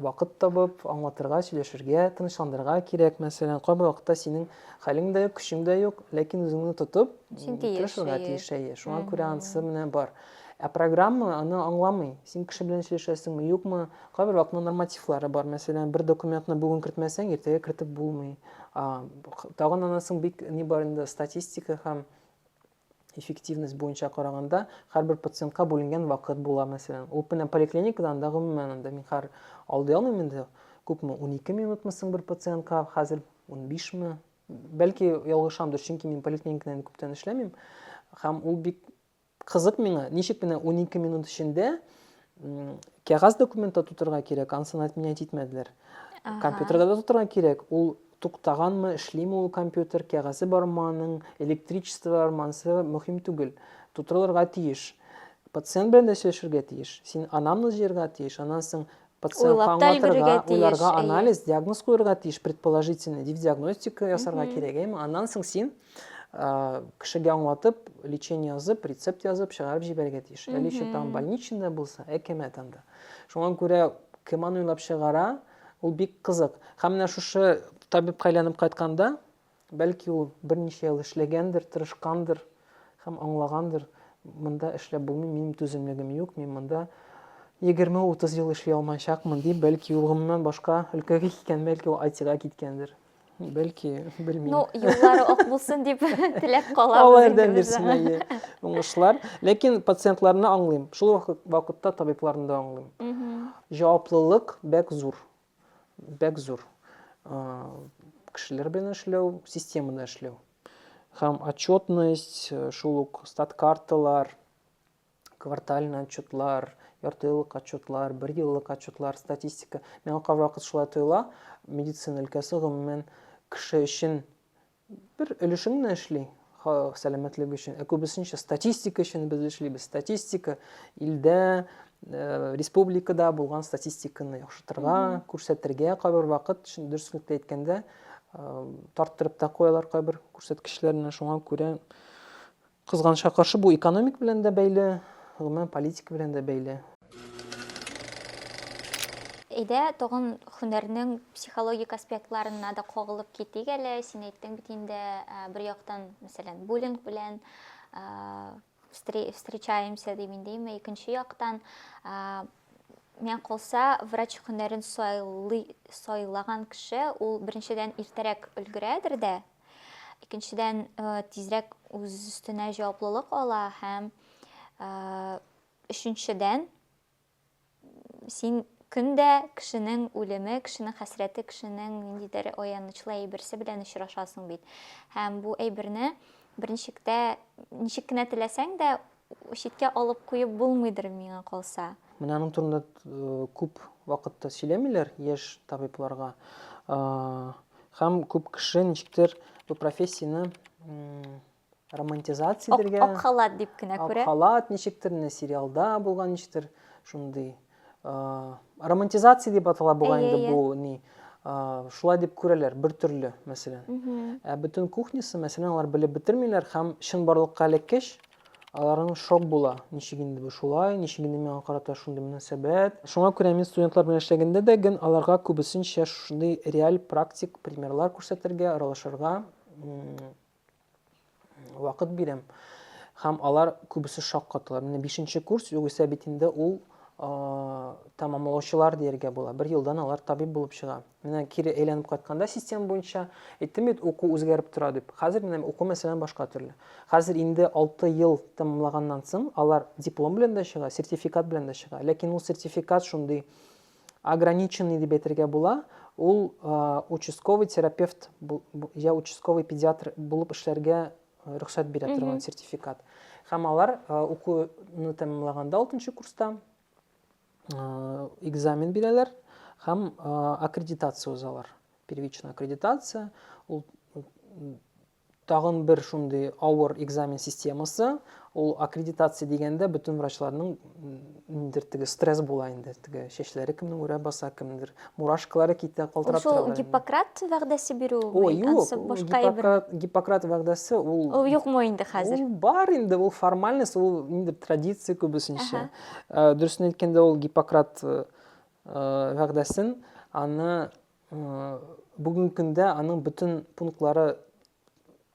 вакыт табып, аңлатырга, сөйләшергә, тынычландырырга кирәк. Мәсәлән, кайбер вакытта синең хәлең дә юк, көчең дә юк, ләкин үзеңне тотып, Син тиеш, тырышырга әйе. тиеш, әйе. Шуңа күрә анысы менә бар. Ә программа аны аңламый. Син кеше белән сөйләшәсеңме, юкмы? Кайбер вакытта нормативлары бар. Мәсәлән, бер документны бүген кертмәсәң, иртәгә кертеп булмый. А, х- Тагын анысың бик ни бар инде, статистика һәм Эффективность буенча караганда, һәрбер пациентка бүленгән вакыт була, мәсәлән. Ул менә поликлиникада анда гомумән анда мин хәр алдый алмыйм инде. Күпме, унике минутмы соң бер пациентка, хәзер унбишме? Бәлки ялгышамдыр, чөнки мин поликлиникада инде күптән эшләмим. Һәм ул бик кызык миңа, ничек менә унике минут эчендә кәгазь документта тутырырга кирәк, ансын отменять итмәделәр. Компьютерда да тутырырга кирәк, ул туктаганмы, эшлиме ул компьютер, кәгазе бармы аның, электричество бармы, ансы мөһим түгел. Тутырылырга тиеш. Пациент белән дә сөйләшергә тиеш. Син анамны җыярга тиеш, аннан соң пациент аңлатырга, уйларга анализ, диагноз куярга тиеш, предположительный дип диагностика ясарга кирәк, әйме? Аннан соң син кешегә аңлатып лечение язып рецепт язып чыгарып җибәрергә тиеш әле еще там больничныйда булса әкәмәт анда шуңа күрә кем аны уйлап чыгара ул бик кызык һәм менә шушы табибка әйләнеп кайтканда бәлки ул берничә ел эшләгәндер тырышкандыр һәм аңлагандыр монда эшләп булмый минем түземлегем юк мин монда егерме утыз ел эшли алмаячакмын дип бәлки ул гомумән башка өлкәгә киткән бәлки ул айтига киткәндер Бәлки, белмим. Ну, юллары ак булсын дип теләп калабыз. Алла ярдәм бирсен, әйе. Уңышлар. Ләкин пациентларны аңлыйм. Шул вакытта табибларны да аңлыйм. Җаваплылык бәк зур. Бәк зур. Кешеләр белән эшләү, системада эшләү. Һәм отчетность, шул ук стат карталар, квартальный отчетлар, яртыеллык отчетлар, бер еллык отчетлар, статистика. Миңа кайвакыт шулай тоела, медицина өлкәсе гомумән кеше өчен бер өлешен генә эшли, сәламәтлек өчен, ә күбесенчә статистика өчен без эшлибез. Статистика илдә, э, республикада булган статистиканы яхшыртырга, күрсәтергә кайбер вакыт, дөреслекте әйткәндә, э, тарттырып та куялар кайбер күрсәткечләрне, шуңа күрә Кызганычка каршы, бу экономик белән дә бәйле, гомумән политика белән дә бәйле. Әйдә, тагын һөнәрнең психологик аспектларына да кагылып китик әле. Син әйттең бит инде, бер яктан, мәсәлән, буллинг белән встречаемся дип индеме, икенче яктан, миңа калса, врач һөнәрен сайлаган кеше, ул беренчедән иртәрәк өлгерәдер дә, Икенчедән, тизрәк үз өстенә җаваплылык ала һәм өченчедән, син көн дә кешенең үлеме, кешенең хәсрәте, кешенең ниндидер аянычлы әйберсе белән очрашасың бит. Һәм бу әйберне берничек тә ничек кенә теләсәң дә Читкә алып куеп булмыйдыр, миңа калса. Менә аның турында күп вакытта сөйләмиләр яшь табибларга. Һәм күп кеше ничектер бу профессияне романтизация итәргә. Ак халат дип кенә күрә. Ак халат ничектер, менә сериалда булган ничектер шундый. романтизация дип атала бугай инде бу ни шулай дип күрәләр бер төрле мәсәлән ә бөтен кухнясы мәсәлән алар белеп бетермиләр һәм чынбарлыкка элеккәч аларның шок була ничек инде бу шулай ничек инде миңа карата шундый мөнәсәбәт шуңа күрә мин студентлар белән эшләгәндә дә ген аларга күбесенчә шундый реаль практик примерлар күрсәтергә аралашырга вакыт бирәм. Һәм алар күбесе шок катылар. Менә 5 курс, югыйсә бит инде ул тәмамлаучылар дияргә була. Бер елдан алар табиб булып чыга. Менә кире әйләнеп кайтканда система буенча әйттем бит, уку үзгәреп тора дип. Хәзер менә уку мәсәлән башка төрле. Хәзер инде 6 ел тәмамлаганнан соң алар диплом белән дә чыга, сертификат белән дә чыга. Ләкин ул сертификат шундый Ограниченный дип әйтергә була, ул участковый терапевт я участковый педиатр булып эшләргә рөхсәт бирә торган сертификат. Һәм алар укуны тәмамлаганда 6 курста экзамен бирәләр һәм аккредитация узалар. Первичная аккредитация, ул Тагын бер шундый авыр экзамен системасы, ул аккредитация дигәндә бөтен врачларның ниндидер теге стресс була инде, теге чәчләре кемнең үрә баса, кемнеңдер мурашкалары китә, калтырап тора. Ул шул Гиппократ вәгъдәсе бирү мени, ансы башка әйбер. Юк, Гиппократ вәгъдәсе ул. Ул юкмы инде хәзер? Ул бар инде, ул формальность, ул ниндидер традиция күбесенчә. Дөресен әйткәндә, ул Гиппократ вәгъдәсен аны Бүгенге көндә аның бөтен пунктлары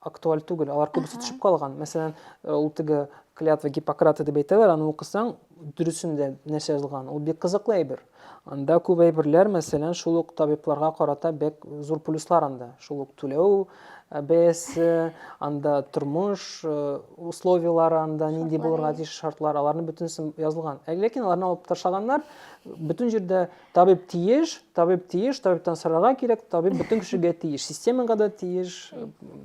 актуаль түгел, алар күбесе төшеп калган. Мәсәлән, ул теге клятва Гиппократа дип әйтәләр, аны укысаң, дөресендә нәрсә язылган. Ул бик кызыклы әйбер. Анда күп әйберләр, мәсәлән, шул ук табибларга карата бик зур плюслар анда. Шул ук түләү э, бәясе, анда тормыш э, условияләре, анда нинди булырга тиеш шартлар, аларның бөтенесе язылган. Ә ләкин аларны алып ташлаганнар, бөтен җирдә Табиб тиеш, табиб тиеш, табибтан сорарга кирәк, табиб бөтен кешегә тиеш, системага да тиеш.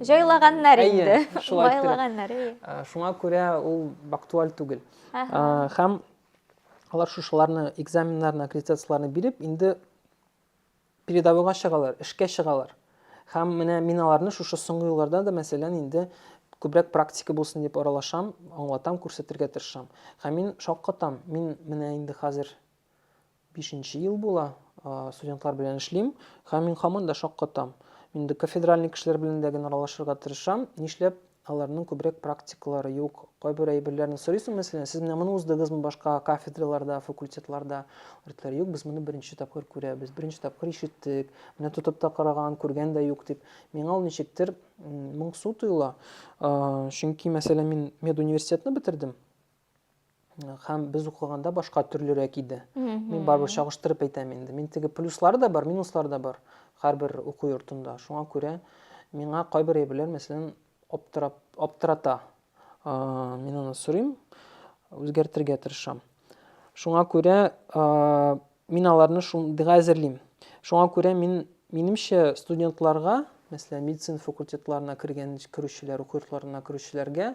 Җайлаганнар инде. Байлаганнар. Шуңа күрә ул актуаль түгел. Һәм алар шушыларны, экзаменнарны, аккредитацияләрне биреп, инде передовойга чыгалар, эшкә чыгалар. Һәм менә мин аларны шушы соңгы елларда да, мәсәлән, инде күбрәк практика булсын дип аралашам, аңлатам, күрсәтергә тырышам. Һәм мин шаккатам. Мин менә инде хәзер Бишенче ел була, студентлар белән эшлим, һәм мин һаман да шаккатам. Мин инде кафедральный кешеләр белән дә генә аралашырга тырышам, нишләп аларның күбрәк практикалары юк? Кайбер әйберләрне сорыйсың, мәсәлән, сез менә моны уздыгызмы башка кафедраларда, факультетларда? Алар юк, без моны беренче тапкыр күрәбез, беренче тапкыр ишеттек, менә тотып та караган, күргән дә юк дип. Миңа ул ничектер моңсу тоела. Чөнки, мәсәлән, мин медуниверситетны бетердем. һәм без укыганда башка төрлерәк иде. Мин барыбер чагыштырып әйтәм инде. Мин теге плюслары да бар, минуслары да бар һәрбер уку йортында. Шуңа күрә миңа кайбер әйберләр, мәсәлән, аптырап, аптырата. Мин аны сорыйм, үзгәртергә тырышам. Шуңа күрә Мин аларны шундыйга әзерлим. Шуңа күрә мин, минемчә, студентларга, мәсәлән, медицина факультетларына кергән, керүчеләр, уку йортларына керүчеләргә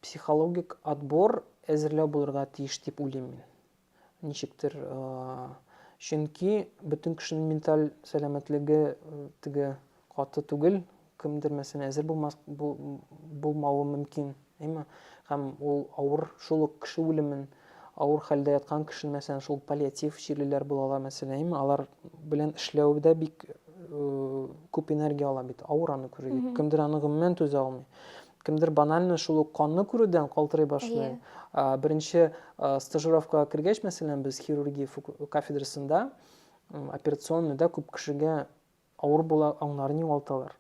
психологик отбор әзерләү булырга тиеш дип уйлыйм мин. Ничектер, чөнки бөтен кешенең менталь сәламәтлеге теге Каты түгел, кемдер мәсәлән әзер булмас, бу, булмавы мөмкин, әйме? Һәм ул авыр, шул ук кеше үлемен, авыр хәлдә яткан кешене, мәсәлән, шул паллиатив чирлеләр булалар, мәсәлән, әйме? Алар белән эшләү дә бик күп энергия ала бит, авыр аны күрү. Кемдер аны гомумән түзә алмый. Кемдер банально шул ук канны күрүдән калтырый башлый. Беренче стажировкага кергәч, мәсәлән, без хирургия кафедрасында операционныйда күп кешегә Авыр була, аңнарын югалталар.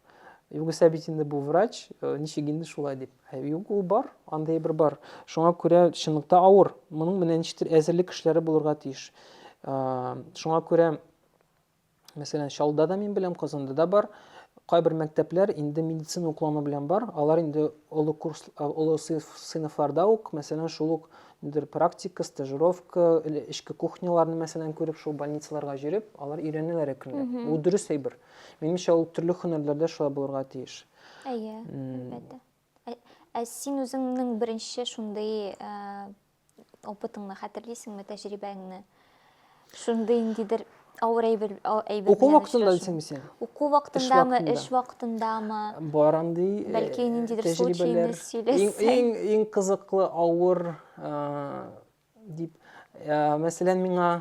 Югыйсә бит инде бу врач, э, ничек инде шулай дип. Ә юк, ул бар, андый бер бар. Шуңа күрә чынлыкта авыр. Моның менә ничектер әзерлек эшләре булырга тиеш. Э, шуңа күрә мәсәлән, Чаллыда да мин беләм, Казанда да бар. Кайбер мәктәпләр инде медицина уклану белән бар. Алар инде олы курс, олы сыйныфларда ук, мәсәлән, шул ук нидер практика, стажировка, или эшке кухняларны мәсәлән күреп, шул больницаларга җөреп, алар өйрәнәләр әкренләп. Mm -hmm. Ул дөрес әйбер. Минемчә, ул төрле һөнәрләрдә шулай булырга тиеш. Әйе, әлбәттә. Ә син үзеңнең беренче шундый опытыңны хәтерлисеңме, тәҗрибәңне? Шундый ниндидер авыр әйбер әйбер. Уку вакытында дисеңме син? Уку вакытындамы, эш вакытындамы? Бар андый. Э, Бәлки ниндидер случайны сөйләсәң. Иң иң кызыклы авыр э, дип э, мәсәлән миңа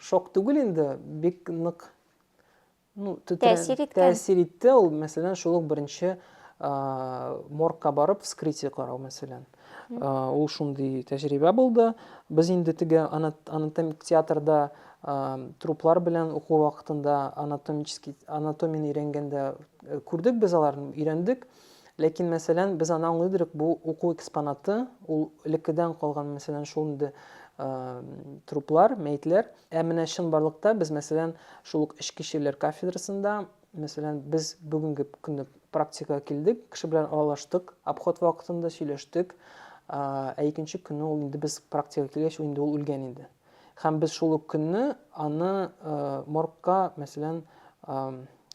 шок түгел инде, бик нык ну, тәэсир иткән. Тәэсир итте ул, мәсәлән, шул ук беренче моргка барып вскрытие карау, мәсәлән. Ул шундый тәҗрибә булды. Без инде теге анатомик театрда труплар белән уку вакытында анатомический анатомияне өйрәнгәндә э, күрдек без аларны, өйрәндек. Ләкин, мәсәлән, без аны аңлыйдырык, бу уку экспонаты, ул элеккедән калган, мәсәлән, шул инде труплар, мәетләр. Ә менә чынбарлыкта без, мәсәлән, шул ук эчке чирләр кафедрасында, мәсәлән, без бүгенге көнне практикага килдек, кеше белән аралаштык, обход вакытында сөйләштек, ә икенче көнне ул инде без практикага килгәч, инде ул үлгән иде. Һәм без шул ук көнне аны моргка, мәсәлән,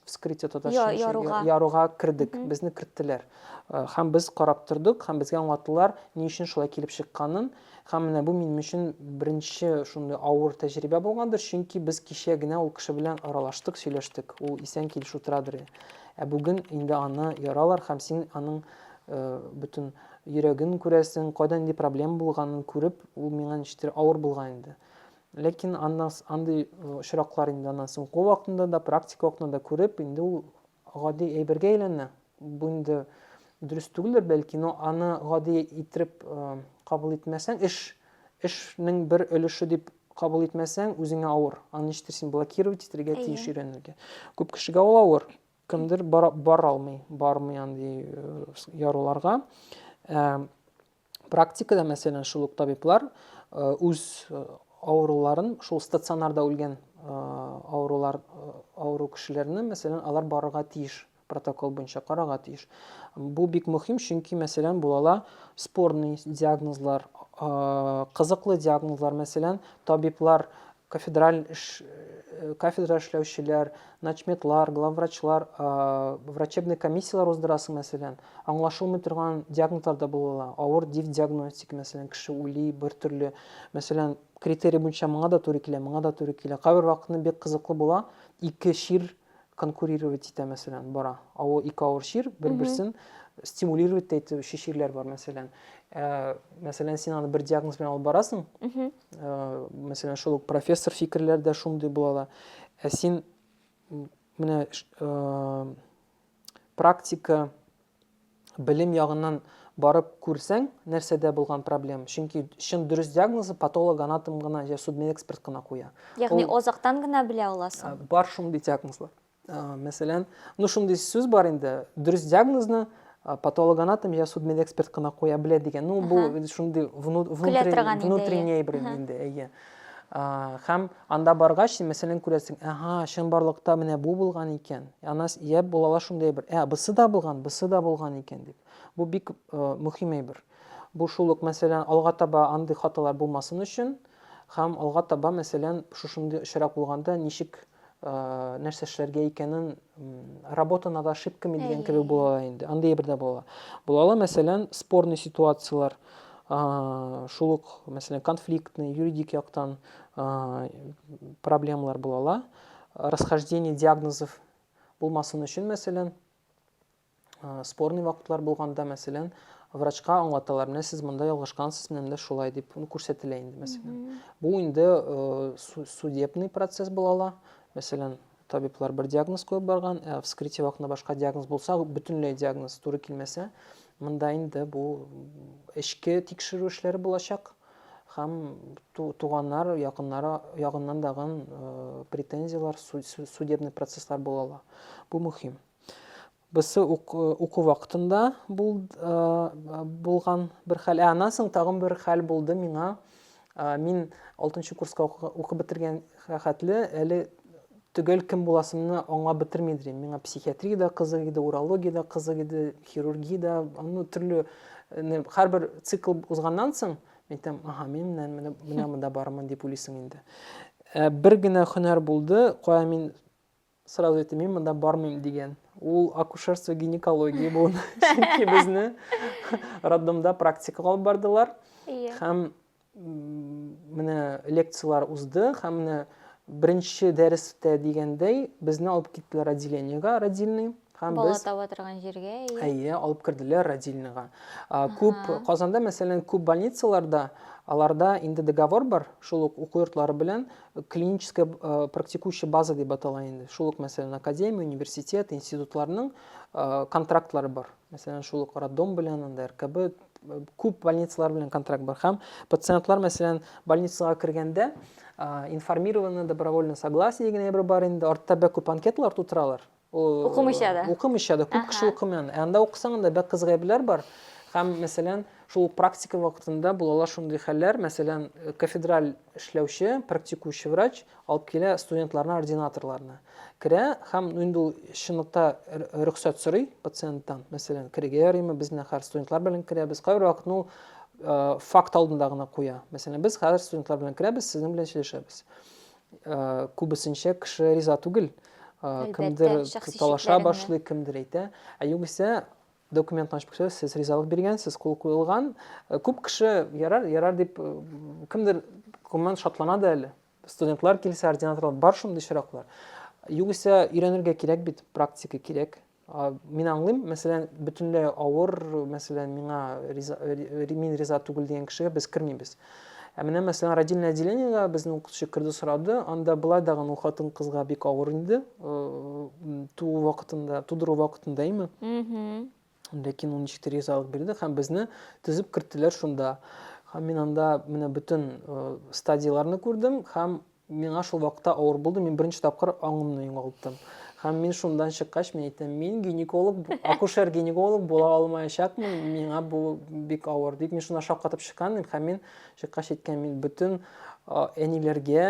вскрытие татарча яруга. яруга кердек, mm -hmm. безне керттеләр. Һәм без карап тордык, һәм безгә аңлаттылар, ни өчен шулай килеп чыкканын. Һәм менә бу минем өчен беренче шундый авыр тәҗрибә булгандыр, чөнки без кичә генә ул кеше белән аралаштык, сөйләштек. Ул исән килеш утырадыр. Ә бүген инде аны яралар һәм син аның бөтен Йөрәген күрәсең, кайда нинди проблема булганын күреп, ул миңа ничектер авыр булган инде. Ләкин аннан андый очраклар инде аннан соң уку вакытында да, практика вакытында да күреп, инде ул гади әйбергә әйләнә. Бу инде дөрес түгелдер, бәлки, но аны гади иттереп кабул итмәсәң, эш, эшнең бер өлеше дип кабул итмәсәң, үзеңә авыр. Аны ничектер син блокировать итәргә тиеш, өйрәнергә. Күп кешегә ул авыр. Кемдер бара, бара алмый, бармый андый яруларга. Ә, практикада, мәсәлән, шул ук табиблар үз авыруларын шул стационарда үлгән авырулар авыру кешеләрне мәсәлән алар барырга тиеш протокол буенча карарга тиеш бу бик мөһим чөнки мәсәлән булала спорный диагнозлар кызыклы диагнозлар мәсәлән табиблар кафедраль кафедра эшләүчеләр, начметлар, главврачлар, врачебный комиссияләр уздырасы, мәсәлән, аңлашылмый торган диагнозлар да була. Авыр див диагностика, мәсәлән, кеше ули бер төрле, мәсәлән, критерий буенча моңа да туры килә, моңа да туры килә. Кайбер вакытны бик кызыклы була, ике чир конкурировать итә, мәсәлән, бара. Авыр ике авыр чир бер-берсен стимулировать итә, өче чирләр бар, мәсәлән. Мәсәлән, син аны бер диагноз белән алып барасың, мәсәлән шул ук профессор фикерләр дә шундый була да ә син менә практика белем ягыннан барып күрсәң нәрсәдә булган проблема чөнки чын дөрес диагнозы патолог анатом гына я судмедэксперт кына куя ягъни азактан гына белә аласың бар шундый диагнозлар Мәсәлән, ну шундый сүз бар инде, дөрес диагнозны патологоанатом я судмедэксперт кына куя белә дигән. Ну бу шундый внутренний бер инде, әйе. Һәм анда баргач, мәсәлән, күрәсең, ага, чынбарлыкта менә бу булган икән. Ана я булалар шундый бер, ә бысы да булган, бысы да булган икән дип. Бу бик мөһим әйбер. Бу шул ук, мәсәлән, алга таба андый хаталар булмасын өчен, һәм алга таба, мәсәлән, шушындый очрак булганда ничек Э, нәрсә эшләргә икәнен работа над ошибками дигән кебек була ала инде андый бер дә була була ала мәсәлән спорный ситуациялар шул ук мәсәлән конфликтный юридик яктан проблемалар була ала расхождение диагнозов булмасын өчен мәсәлән Спорный вакытлар булганда, мәсәлән, врачка аңлаталар, менә сез монда ялгышкансыз, менә монда шулай дип күрсәтелә инде, мәсәлән. Бу инде судебный процесс була ала. Мәсәлән, табиблар бер диагноз куеп барган, ә вскрытие вакытында башка диагноз булса, бөтенләй диагноз туры килмәсә, монда инде бу эчке тикшерү эшләре булачак һәм туганнар якыннары ягыннан дагын э, претензияләр судебный процесслар була ала бу мөһим Берсе ук, э, уку вакытында бул, э, булган бер хәл. Ә аннан соң тагын бер хәл булды миңа. Э, мин 6 курска укып бетергән хәтле әле төгәл кем буласымны аңлап бетерми дим. Миңа психиатрия да кызык иде, урология да кызык иде, хирургия да, ну төрле һәрбер цикл узганнан соң мин әйтәм, аха, мин менә менә менә монда бармын дип уйлыйсың инде. Бер генә һөнәр булды, кая мин сразу әйтте мин монда бармыйм дигән ул акушерство гинекология буын чөнки безне роддомда практикага алып бардылар һәм менә лекциялар узды һәм менә беренче дәрестә дигәндәй безне алып киттеләр отделениега родильный Һәм Бала без таба торган җиргә, әйе. Әйе, алып керделәр родильныйга. Күп Казанда, мәсәлән, күп больницаларда аларда инде договор бар, шул ук уку йортлары белән клиническая практикующая база дип атала инде. Шул ук, мәсәлән, академия, университет, институтларның контрактлары бар. Мәсәлән, шул ук роддом белән, анда РКБ күп больницалар белән контракт бар. Һәм пациентлар, мәсәлән, больницага кергәндә информированы добровольно согласие дигән әйбер бар инде. Артта бәк күп анкеталар тутыралар. Укымыйча да. Укымыйча да. Күп кеше укымый аны. Ә анда укысаң, анда бәк кыз гайбләр бар. Һәм, мәсәлән, шул ук практика вакытында булалар шундый хәлләр, мәсәлән, кафедраль эшләүче, практикующий врач алып килә студентларны, ординаторларны. Керә һәм инде ул чынлыкта рөхсәт сорый пациенттан, мәсәлән, керергә ярыймы, без менә хәзер студентлар белән керәбез. Кайбер вакытны ул факт алдында гына куя. Мәсәлән, без хәзер студентлар белән керәбез, сезнең белән сөйләшәбез. Э, күбесенчә кеше риза түгел э, кемдер талаша башлый кемдер әйтә ә югыйсә документны ачып күрсәтә сез ризалык биргәнсез кул куелган э, күп кеше ярар ярар дип кемдер гомумән шатлана да әле студентлар килсә ординаторлар бар шундый очраклар югыйсә өйрәнергә кирәк бит практика кирәк Мин аңлыйм, мәсәлән, бөтенләй авыр, мәсәлән, миңа риза, мин риза түгел дигән кешегә без кермибез. Ә менә, мәсәлән, родильное отделениега безнең укытучы керде сорады, анда былай да гын хатын кызга бик авыр инде, туу вакытында, тудыру вакытында име. Ләкин ул ничектер ризалык бирде һәм безне төзеп керттеләр шунда. Һәм мин анда менә бөтен стадияләрне күрдем һәм Миңа шул вакытта авыр булды, мин беренче тапкыр аңымны югалттым. Һәм мин шундан чыккач, мин әйтәм, мин гинеколог, акушер-гинеколог була алмаячакмын, миңа бу бик авыр дип, мин шунда шаккатып чыккан идем, һәм мин чыккач әйткән, мин бөтен әниләргә,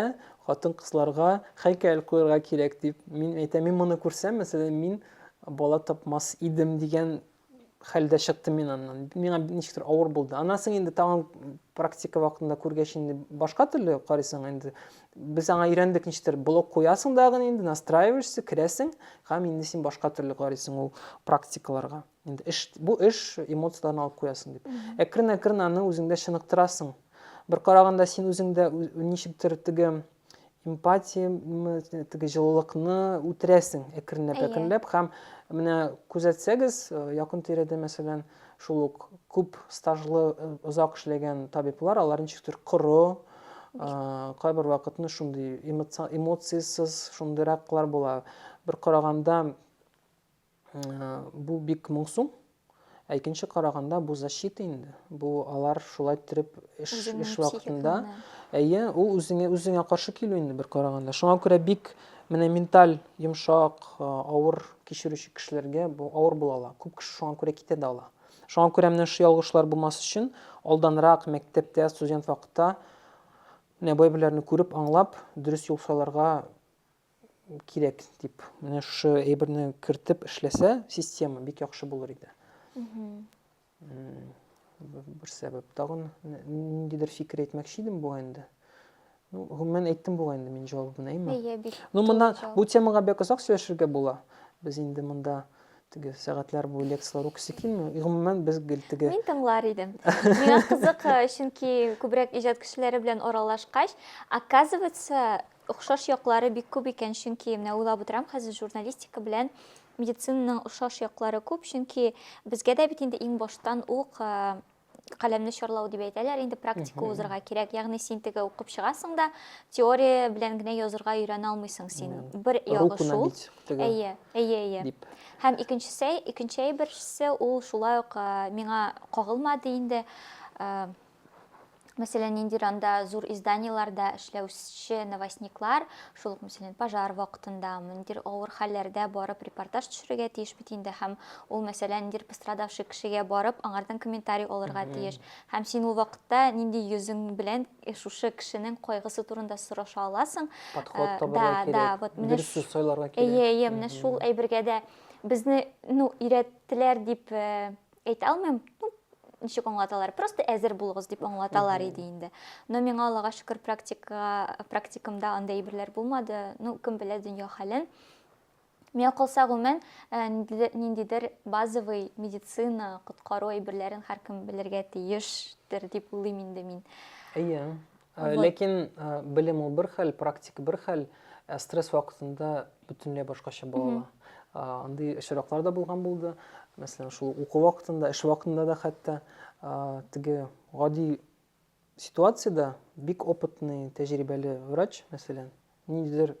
хатын-кызларга һәйкәл куярга кирәк дип, мин әйтәм, мин моны күрсәм, мәсәлән, мин бала тапмас идем дигән хәлдә чыктым мин аннан миңа ничектер авыр булды аннан соң инде тагын практика вакытында күргәч инде башка төрле карыйсың инде без аңа өйрәндек ничектер блок куясың дагы инде настраиваешься керәсең һәм инде син башка төрле карыйсың ул практикаларга инде эш бу эш эмоцияләрне алып куясың дип әкрен әкрен аны үзеңдә чыныктырасың бер караганда син үзеңдә ничектер теге эмпатия теге җылылыкны үтерәсең әкренләп әкренләп һәм менә күзәтсәгез э, якын тирәдә мәсәлән шул ук күп стажлы э, озак эшләгән табиблар алар ничектер коры э, кайбер вакытны шундый эмоциясез шундыйраклар була бер караганда Бу бик моңсу. Ә икенче караганда бу защита инде. Бу алар шулай торып эш эш вакытында. Әйе, ул үзеңә үзеңә каршы килү инде бер караганда. Шуңа күрә бик менә менталь йомшак, э, авыр кичерүче кешеләргә бу авыр була ала. Күп кеше шуңа күрә китә дә ала. Шуңа күрә менә шушы ялгышлар булмас өчен алданрак мәктәптә, студент вакытта менә бай күреп, аңлап, дөрес юл сайларга кирәк дип менә шушы әйберне кертеп эшләсә система бик яхшы булыр иде бер сәбәп тагын ниндидер фикер әйтмәкче идем бугай инде ну гомумән әйттем бугай инде мин җавабын әйме ну монда бу темага бик озак сөйләшергә була без инде монда теге сәгатьләр буе лекцияләр укыйсы килми гомумән без гел теге мин тыңлар идем миңа кызык чөнки күбрәк иҗат кешеләре белән аралашкач оказывается Охшаш яклары бик күп икән, чөнки менә уйлап утырам хәзер, журналистика белән медицинаның охшаш яклары күп, чөнки безгә дә бит инде иң баштан ук каләмне чарлау дип әйтәләр, инде практика узырга кирәк. Ягъни син теге укып чыгасың да, теория белән генә язырга өйрәнә алмыйсың син. Бер ягы шул. Әйе, әйе, әйе. Һәм икенчесе, икенче әйберсе ул шулай ук миңа кагылмады инде. мәсәлән, ниндидер анда зур изданиеләрдә эшләүче новостниклар, шул ук, мәсәлән, пожар вакытында, ниндидер авыр хәлләрдә барып репортаж төшерергә тиеш бит инде, һәм ул, мәсәлән, ниндидер пострадавший кешегә барып, аңардан комментарий алырга тиеш. Һәм син ул вакытта нинди йөзең белән э, шушы кешенең кайгысы турында сораша аласың? Подход э, табарга да, кирәк. Да, вот менә дөрес сүз сайларга кирәк. Әйе, әйе, менә шул әйбергә дә безне, ну, өйрәттеләр дип э, әйтә алмыйм ничек аңлаталар просто әзер булыгыз дип аңлаталар иде инде но миңа аллага шөкер практика практикамда андай әйберләр булмады ну кем белә дөнья хәлен миңа калса гомумән э, ниндидер базовый медицина коткару әйберләрен һәркем белергә тиештер дип уйлыйм инде мин әйе э, ләкин э, белем ул бер хәл практика бер хәл стресс вакытында бөтенләй башкача балала андый очраклар да булган булды мәсәлән шул уку вакытында эш вакытында да хәтта теге гади ситуацияда бик опытный тәҗрибәле врач мәсәлән ниндидер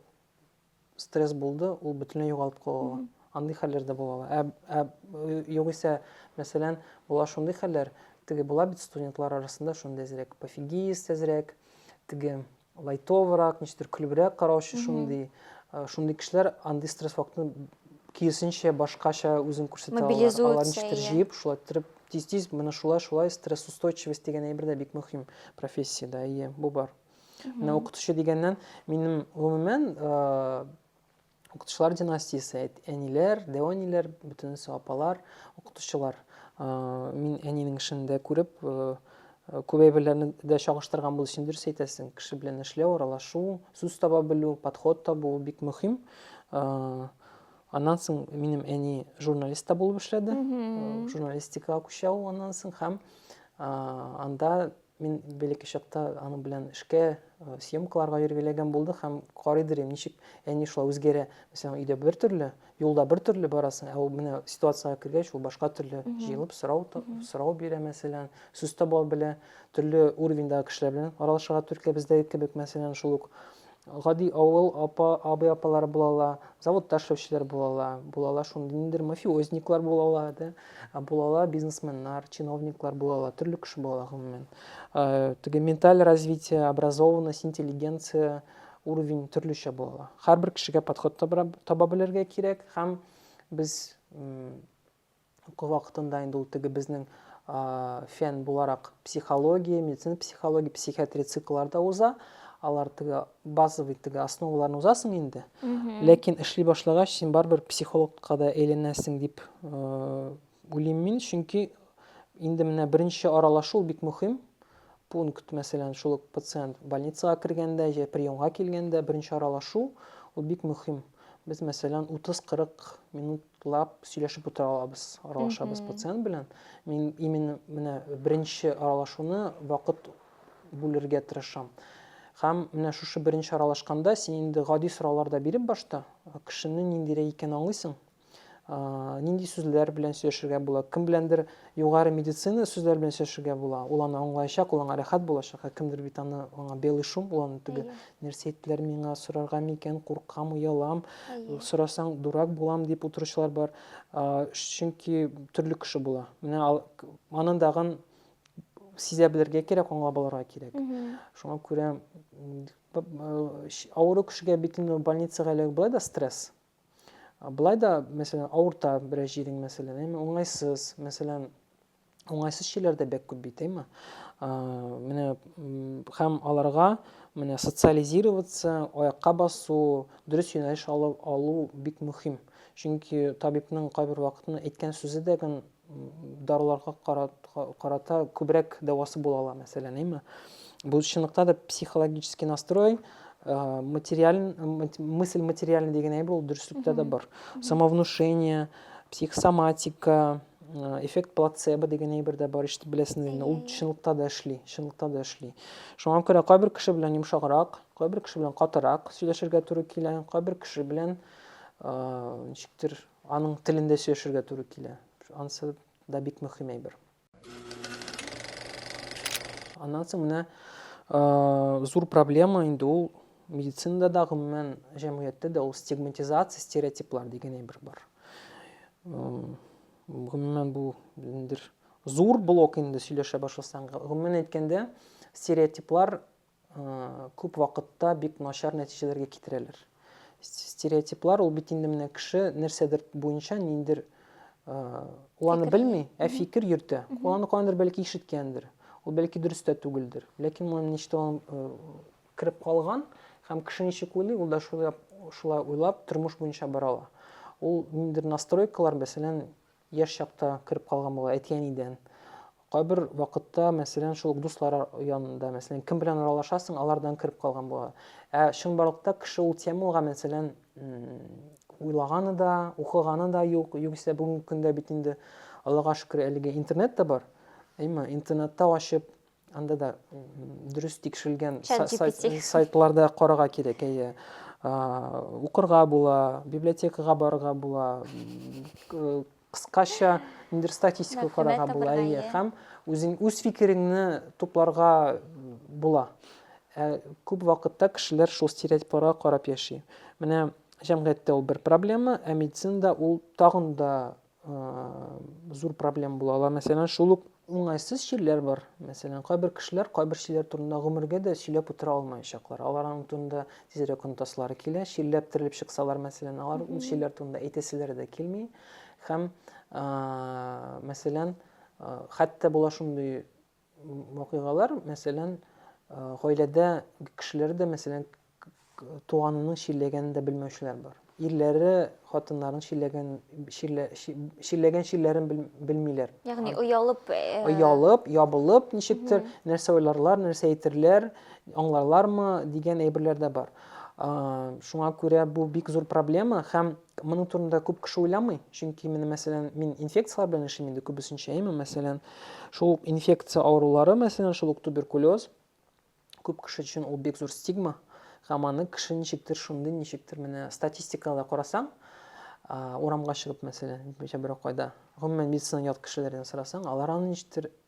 стресс булды ул бөтенләй югалып кала андый хәлләр дә була ә, ә югыйсә мәсәлән була шундый хәлләр теге була бит студентлар арасында шундый әзрәк пофигист әзрәк теге Лайтоврак, ничектер көлебрәк караучы шундый, э, шундый кешеләр андый стресс вакытын киресенчә башкача үзен күрсәтә алалар. Мобилизуется, Алар ничектер иә. җыеп, шулай иттереп тиз-тиз менә шулай шулай стрессоустойчивость дигән әйбер дә бик мөһим профессиядә. Әйе, бу бар. Менә укытучы дигәннән минем гомумән э, Укытучылар династиясе, әниләр, дәвәниләр, бөтенесе апалар, укытучылар. Мин әнинең эшен дә күреп, күп әйберләрне дә чагыштырган булды, син дөрес әйтәсең. Кеше белән эшләү, аралашу, сүз таба белү, подход табу бик мөһим. Аннан соң минем әни журналист та булып эшләде. Журналистикага күчә ул аннан соң һәм анда Мин бәләкәй чакта аның белән эшкә, э, съемкаларга йөрергә ләгән булды һәм карый дирем, ничек әни шулай үзгәрә. Мәсәлән, өйдә бер төрле, юлда бер төрле барасың, ә ул менә ситуациягә кергәч, ул башка төрле җыелып сорау сорау бирә, мәсәлән, сүз таба белә, төрле уровеньдагы кешеләр белән аралашырга төркә бездәге кебек, мәсәлән, шул ук гади авыл апа, абый-апалары була ала, заводта эшләүчеләр була ала, була ала шундый ниндидер мафиозниклар була ала, да, була ала бизнесменнар, чиновниклар була ала, төрле кеше була ала гомумән. Теге менталь развитие, образованность, интеллигенция уровень төрлечә була ала. Һәрбер кешегә подход таба белергә кирәк һәм без Уку вакытында инде ул теге безнең фән буларак психология, медицина психология, психиатрия цикллары да уза. Алар теге базовый теге основаларын узасың инде. Ләкин эшли башлагач, син барыбер психологка да әйләнәсең дип уйлыйм мин, чөнки инде менә беренче аралашу бик мөһим пункт, мәсәлән, шул пациент больницага кергәндә, җә приемга килгәндә беренче аралашу, ул бик мөһим. Без, мәсәлән, 30-40 минут лап сөйләшеп утыра алабыз, аралашабыз mm -hmm. пациент белән. Мин именно менә беренче аралашуны вакыт бүлергә тырышам. Һәм менә шушы беренче аралашканда син инде гади сораулар да биреп башта кешене ниндирәк икәнен аңлыйсың. Нинди сүзләр белән сөйләшергә була? Кем беләндер югары медицина сүзләр белән сөйләшергә була. Ул аны аңлаячак, ул аңа рәхәт булачак. Ә кемдер бит аны аңа белый шум, ул аны түгел. Нәрсә әйттеләр миңа, сорарга микән, куркам, оялам, сорасаң дурак булам дип утыручылар бар. Чөнки төрле кеше була. Менә анын дагын сизә белергә кирәк, аңлап алырга кирәк. Шуңа күрә авыру кешегә бит инде больницага эләгү былай да стресс. Былай да, мәсәлән, авырта берәр җирең, мәсәлән, уңайсыз, мәсәлән, уңайсыз чөйләр дә бәк күп бит әйме менә һәм аларга менә социализироваться аякка басу дөрес юнәлеш алып алу бик мөһим чөнки табибның кайбер вакытны әйткән сүзе дә гын даруларга карата күбрәк дәвасы була ала мәсәлән әйме бу чынлыкта да психологический настрой Э, материаль, мысль материальный деген әйбер ул дөреслектә дә бар самовнушение психосоматика эффект плацебо дигән әйбер дә бар ишетеп беләсеңдер инде ул чынлыкта да эшли чынлыкта да эшли шуңа күрә кайбер кеше белән йомшаграк кайбер кеше белән катырак сөйләшергә туры килә кайбер кеше белән ничектер аның телендә сөйләшергә туры килә анысы да бик мөһим әйбер аннан соң менә зур проблема инде ул медицинада да гомумән җәмгыятьтә дә ул стигматизация стереотиплар дигән әйбер бар гомумән бу ниндидер зур блок инде сөйләшә башласаң гомумән әйткәндә стереотиплар күп вакытта бик начар нәтиҗәләргә китерәләр стереотиплар ул бит инде менә кеше нәрсәдер буенча ниндидер ул аны белми ә фикер йөртә ул аны каяндыр бәлки ишеткәндер ул бәлки дөрес тә түгелдер ләкин моны ничтан кереп калган һәм кеше ничек уйлый, ул да шулай, шулай уйлап, тормыш буенча бара ала. Ул ниндидер настройкалар, мәсәлән, яшь чакта кереп калган була, әти-әнидән. Кайбер вакытта, мәсәлән, шул ук дуслар янында, мәсәлән, кем белән аралашасың, алардан кереп калган була. Ә чынбарлыкта кеше ул темаларга, мәсәлән, уйлаганы да, укыганы да юк. Югыйсә бүгенге көндә бит инде Аллага шөкер, әлеге интернет та бар. Әйме, интернетта ачып, Анда да дөрес тикшерелгән сайтларда карага кирәк, әйе. Укырга була, библиотекага барырга була, кыскача ниндер статистика карага була, әйе, һәм үзең үз фикереңне тупларга була. Ә күп вакытта кешеләр шул стереотипларга карап яши. Менә җәмгыятьтә ул бер проблема, ә медицинада ул тагын да зур проблем була ала. Мәсәлән, шул ук уңайсыз чирләр бар. Мәсәлән, кайбер кешеләр кайбер чирләр турында гомергә дә сөйләп утыра алмаячаклар. Аларның турында тизрәк онытасылары килә. Чирләп терелеп чыксалар, мәсәлән, алар ул чирләр турында әйтәселәре дә килми. Һәм, мәсәлән, хәтта була шундый вакыйгалар, мәсәлән, гаиләдә кешеләр дә, мәсәлән, туганының чирләгәнен дә белмәүчеләр бар. Ирләре хатыннарын чирләгән чирлә, чирләгән чирләрен белмиләр. Ягъни оялып, оялып, ябылып ничектер нәрсә уйларлар, нәрсә әйтерләр, аңларлармы дигән әйберләр дә бар. Шуңа күрә бу бик зур проблема һәм Моның турында күп кеше уйламый, чөнки менә мәсәлән, мин инфекцияләр белән эшлим инде күбесенчә, әйме, мәсәлән, шул ук инфекция авырулары, мәсәлән, шул ук туберкулез, күп кеше өчен ул бик зур стигма, һәм аны кеше ничектер шундый, ничектер менә статистикада карасаң, урамга чыгып, мәсәлән, берәү кайда, гомумән медицина ят кешеләрдән сорасаң, алар аны ничектер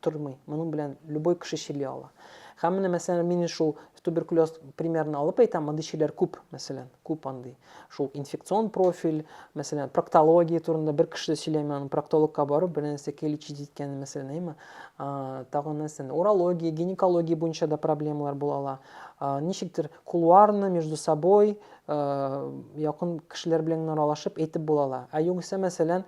тормый. Моның белән любой кеше чили ала. Һәм менә мәсәлән мин шул туберкулез примерын алып әйтәм, мондый чиләр күп, мәсәлән, күп андый. Шул инфекцион профиль, мәсәлән, проктология турында бер кеше дә сөйләми, аның проктологка барып бер нәрсә лечить иткәнен, мәсәлән, әйме. Тагын нәрсә, урология, гинекология буенча да проблемалар була ала. Ничектер кулуарны между собой якын кешеләр белән аралашып әйтеп була ала. Ә югыйсә, мәсәлән,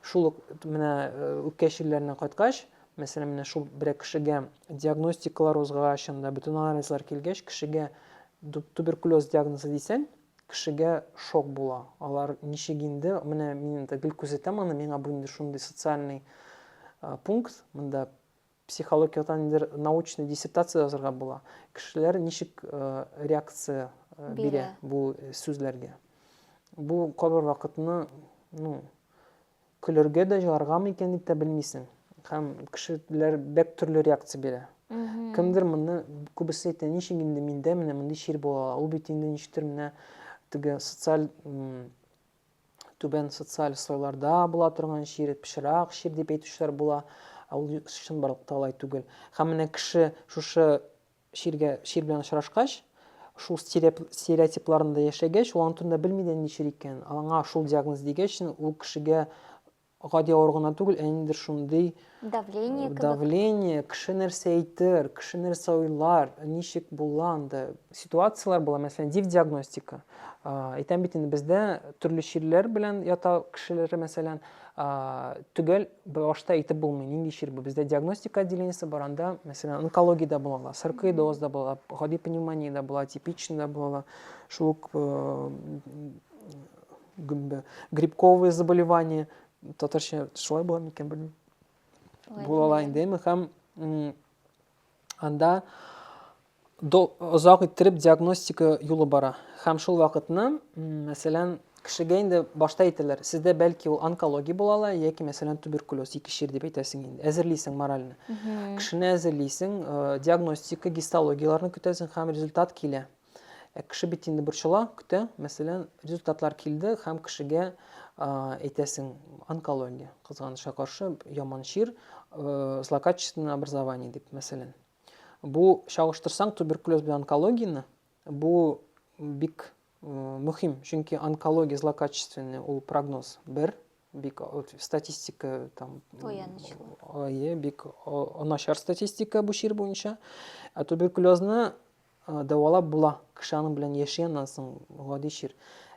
Шул ук менә үпкә чирләренә кайткач, мәсәлән, менә шул берәр кешегә диагностикалар узгач, анда бөтен анализлар килгәч, кешегә туберкулез диагнозы дисәң, кешегә шок була. Алар ничек инде, менә мин инде гел күзәтәм аны, миңа бу инде шундый социальный пункт, монда Психологиядән ниндидер научный диссертация язарга була. Кешеләр ничек реакция бирә бу сүзләргә? Бу кабер вакытны, ну, көләргә дә, җыларга микән дип тә белмисең. Һәм кешеләр бәк төрле реакция бирә. Кемдер моны күбесе әйтә, ничек инде миндә менә мондый чир була, ул бит инде ничектер менә теге социаль түбән социаль слойларда була торган чир, пычрак чир дип әйтүчеләр була. Ә ул чынбарлыкта алай түгел. Һәм менә кеше шушы чиргә чир белән очрашкач, шул стереотипларында яшәгәч, ул аны турында белми дә ни чир икән. Аңа шул диагноз дигәч, ул кешегә гади авыру гына түгел, ә ниндидер шундый давление кебек. Давление, кеше нәрсә әйтер, кеше нәрсә уйлар, ничек була анда. Ситуацияләр була, мәсәлән, див диагностика. Әйтәм бит инде бездә төрле чирләр белән ята кешеләр, мәсәлән, төгәл башта әйтеп булмый, нинди чир бу. Бездә диагностика отделениесе бар, анда, мәсәлән, онкологиядә булалар, саркоидозда була, гади пневмониядә була, типичныйда була, шул ук э, гөмбә грибковые заболевания татарча шулай була микән белмим була ала инде әмма һәм анда озак иттереп диагностика юлы бара һәм шул вакытны мәсәлән кешегә инде башта әйтәләр сездә бәлки ул онкология була ала яки мәсәлән туберкулез ике чир дип әйтәсең инде әзерлисең моральны кешене әзерлисең э, диагностика гистологияләрне көтәсең һәм результат килә Ә кеше бит инде борчыла, көтә. Мәсәлән, результатлар килде һәм кешегә әйтәсең, онкология, кызганычка каршы, яман чир, э, злокачественное образование дип, мәсәлән. Бу чагыштырсаң туберкулез белән онкологияне, бу бик э, мөһим, чөнки онкология злокачественный ул прогноз бер, бик статистика там ое бик начар статистика бу чир буенча ә туберкулезны Дәвалап була, кеше аның белән яши аннан соң, гади чир.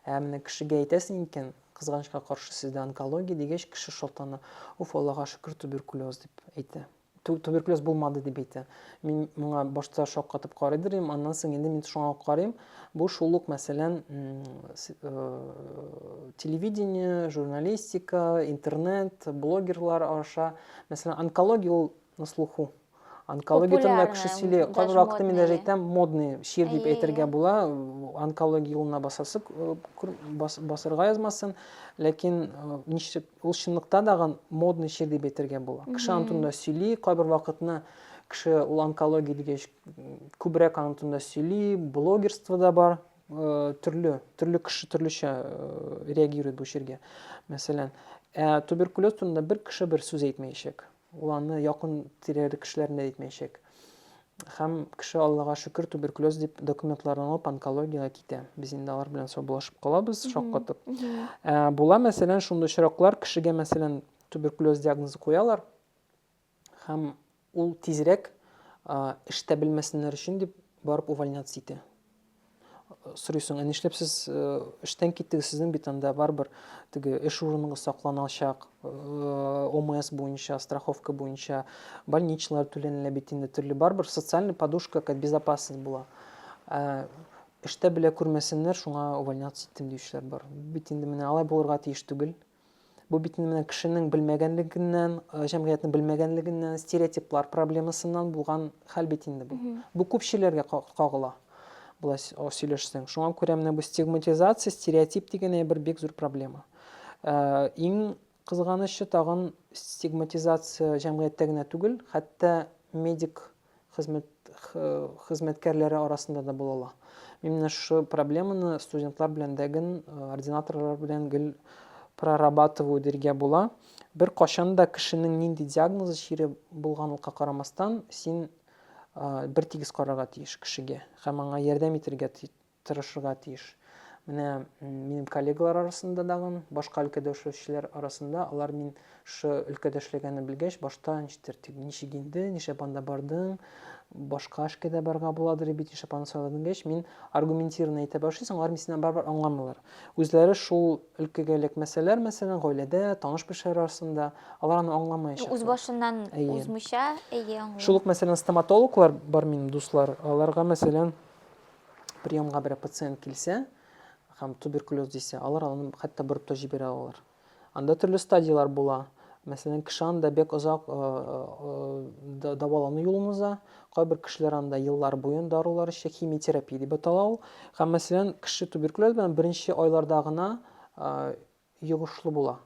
Ә менә кешегә әйтәсең икән, кызганычка каршы, сездә онкология дигәч, кеше шалтана, уф, Аллага шөкер, туберкулез дип әйтә. Туберкулез булмады дип әйтә. Мин моңа башта шаккатып карый дер идем, аннан соң инде мин шуңа карыйм. Бу шул ук, мәсәлән, телевидение, журналистика, интернет, блогерлар аша, мәсәлән, онкология ул на слуху онкология турында кеше сөйли кайбер вакытта мин даже әйтәм модный шир дип әйтергә була онкология юлына басасы басырга язмасын ләкин ничек ул чынлыкта дагы модный шир дип әйтергә була кеше аны турында сөйли кайбер вакытны кеше ул онкология дигәч күбрәк аны турында сөйли блогерство да бар төрле төрле кеше төрлечә реагирует бу ширгә мәсәлән ә туберкулез турында бер кеше бер сүз әйтмәячәк Ул аны якын тирәле кешеләрне дә әйтмәячәк. Һәм кеше, Аллага шөкер, туберкулез дип документларын алып онкологиягә китә. Без инде алар белән саубулашып калабыз, шаккатып. Ә, була, мәсәлән, шундый очраклар, кешегә, мәсәлән, туберкулез диагнозы куялар, һәм ул тизрәк эштә белмәсеннәр өчен дип барып увольняться итә. сорыйсың, ә нишләп сез эштән киттегез, сезнең бит анда барыбер теге эш урыныгыз сакланачак, ОМС буенча, страховка буенча, больничныйлар түләнелә бит инде төрле, барыбер социальный подушка, как безопасность була. Ә эштә белә күрмәсеннәр, шуңа увольняться иттем диючеләр бар. Бит инде менә алай булырга тиеш түгел. Бу бит менә кешенең белмәгәнлегеннән, э, җәмгыятьнең белмәгәнлегеннән, стереотиплар проблемасыннан булган хәл бит инде бу. Бу күпчеләргә кагыла. Болай сөйләшсәң. Шуңа күрә менә бу стигматизация, стереотип дигән әйбер бик зур проблема. Э, иң кызганычы тагын стигматизация җәмгыятьтә генә түгел, хәтта медик хезмәт хезмәткәрләре арасында да була ала. Мин менә шушы проблеманы студентлар белән дә гел, э, ординаторлар белән гел прорабатываю диргә була. Бер кашан да кешенең нинди диагнозы чире булганлыкка карамастан, син э, бер тигез карарга тиеш кешегә һәм аңа ярдәм итергә тырышырга тиеш. Менә минем коллегалар арасында дагын, башка өлкәдә эшләүчеләр арасында, алар мин шы өлкәдә эшләгәнне белгәч, башта ничектер, ничек инде, нишләп анда бардың, башка эшкә дә барга буладыр бит, нишләп аны сайладың дигәч, мин аргументированно әйтә башлыйсың, алар минсеннән барыбер аңламыйлар. Үзләре шул өлкәгә эләкмәсәләр, мәсәлән, гаиләдә, таныш-белешләр арасында, алар аны аңламаячаклар. Үз башыннан узмыйча, әйе, аңлыйм. Шул ук, мәсәлән, стоматологлар бар минем дуслар, аларга, мәсәлән, приемга берәр пациент килсә һәм туберкулез дисә, алар аны хәтта борып та җибәрә алалар. Анда төрле стадияләр була. Мәсәлән, кеше анда бик озак э, э, дәвалану юлын уза. Кайбер кешеләр анда еллар буен дарулар эчә, химиотерапия дип атала ул. Һәм мәсәлән, кеше туберкулез белән беренче айларда гына э, йогышлы була.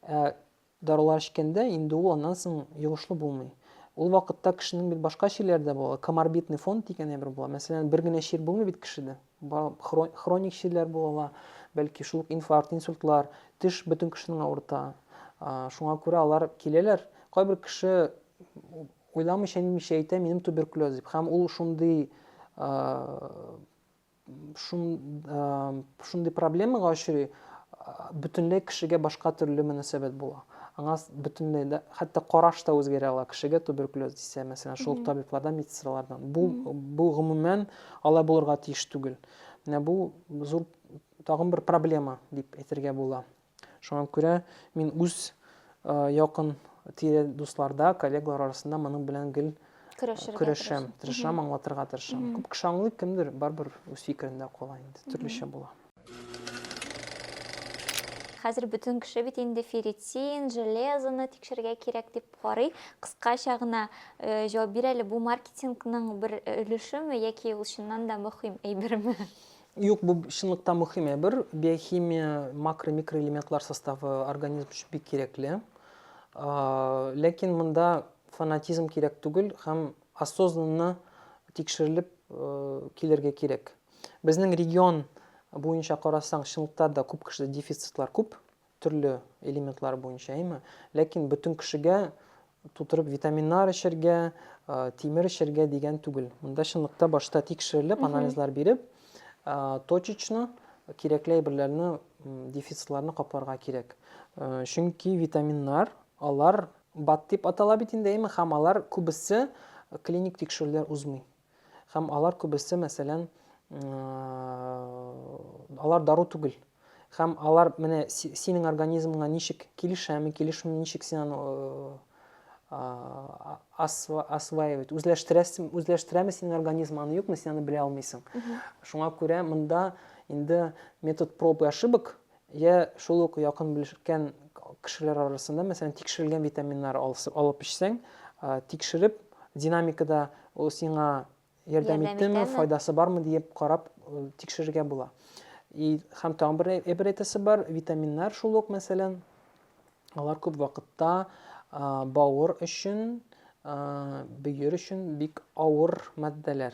Ә дарулар эчкәндә инде ул аннан соң йогышлы булмый. Ул вакытта кешенең бит башка чирләре дә була, коморбидный фон дигән әйбер була. Мәсәлән, бер генә чир булмый бит кешедә. Хроник чирләр була ала, бәлки шул ук инфаркт, инсультлар, теш бөтен кешенең авырта. Шуңа күрә алар киләләр. Кайбер кеше уйламыйча-нитмичә әйтә, минем туберкулез дип. Һәм ул шундый шундый проблемага очрый, бөтенләй кешегә башка төрле мөнәсәбәт була. Аңа бөтенләй дә хәтта караш та үзгәрә ала. Кешегә туберкулез дисә, мәсәлән, шул табиблардан, медсестралардан. Бу бу гомумән алай булырга тиеш түгел. Менә бу зур тагын бер проблема дип әйтергә була. Шуңа күрә мин үз якын тирә дусларда, коллегалар арасында моның белән гел көрәшәм, тырышам, аңлатырга тырышам. Күп кеше аңлый, кемдер барыбер үз фикерендә кала инде, төрлечә була. Хәзер бөтен кеше бит инде ферритин, железоны тикшерергә кирәк дип карый. Кыскача гына э, җавап бир әле, бу маркетингның бер өлешеме яки ул чыннан да мөһим әйберме? Юк, бу чынлыкта мөһим әйбер. Биохимия, макро, микроэлементлар составы организм өчен бик кирәкле. Ләкин монда фанатизм кирәк түгел һәм осознанно тикшерелеп килергә кирәк. Безнең регион буенча карасаң, чынлыкта да күп кешедә дефицитлар күп. төрле элементлар буенча, әйме? Ләкин бөтен кешегә тутырып витаминнар эчәргә, тимер эчәргә дигән түгел. Монда чынлыкта башта тикшерелеп, анализлар биреп, точечно кирәкле әйберләрне, дефицларны капларга кирәк. Чөнки витаминнар, алар бат дип атала бит инде, әйме, һәм алар күбесе клиник тикшерүләр узмый. Һәм алар күбесе, мәсәлән, алар дару түгел. Һәм алар менә синең организмыңа ничек килешәме, килешми ничек син аны осваивать, үзләштерәсең, үзләштерәме синең организм аны юкмы, син аны белә алмыйсың. Шуңа күрә монда инде метод проб и ошибок Йә шул ук якын белешкән кешеләр арасында, мәсәлән, тикшерелгән витаминнар алып эчсәң, тикшереп, динамикада ул сиңа ярдәм иттеме, файдасы бармы диеп карап тикшерергә була. И һәм тагын бер әйбер әйтәсе бар, витаминнар шул ук, мәсәлән, алар күп вакытта бавыр өчен, бөер өчен бик авыр матдәләр.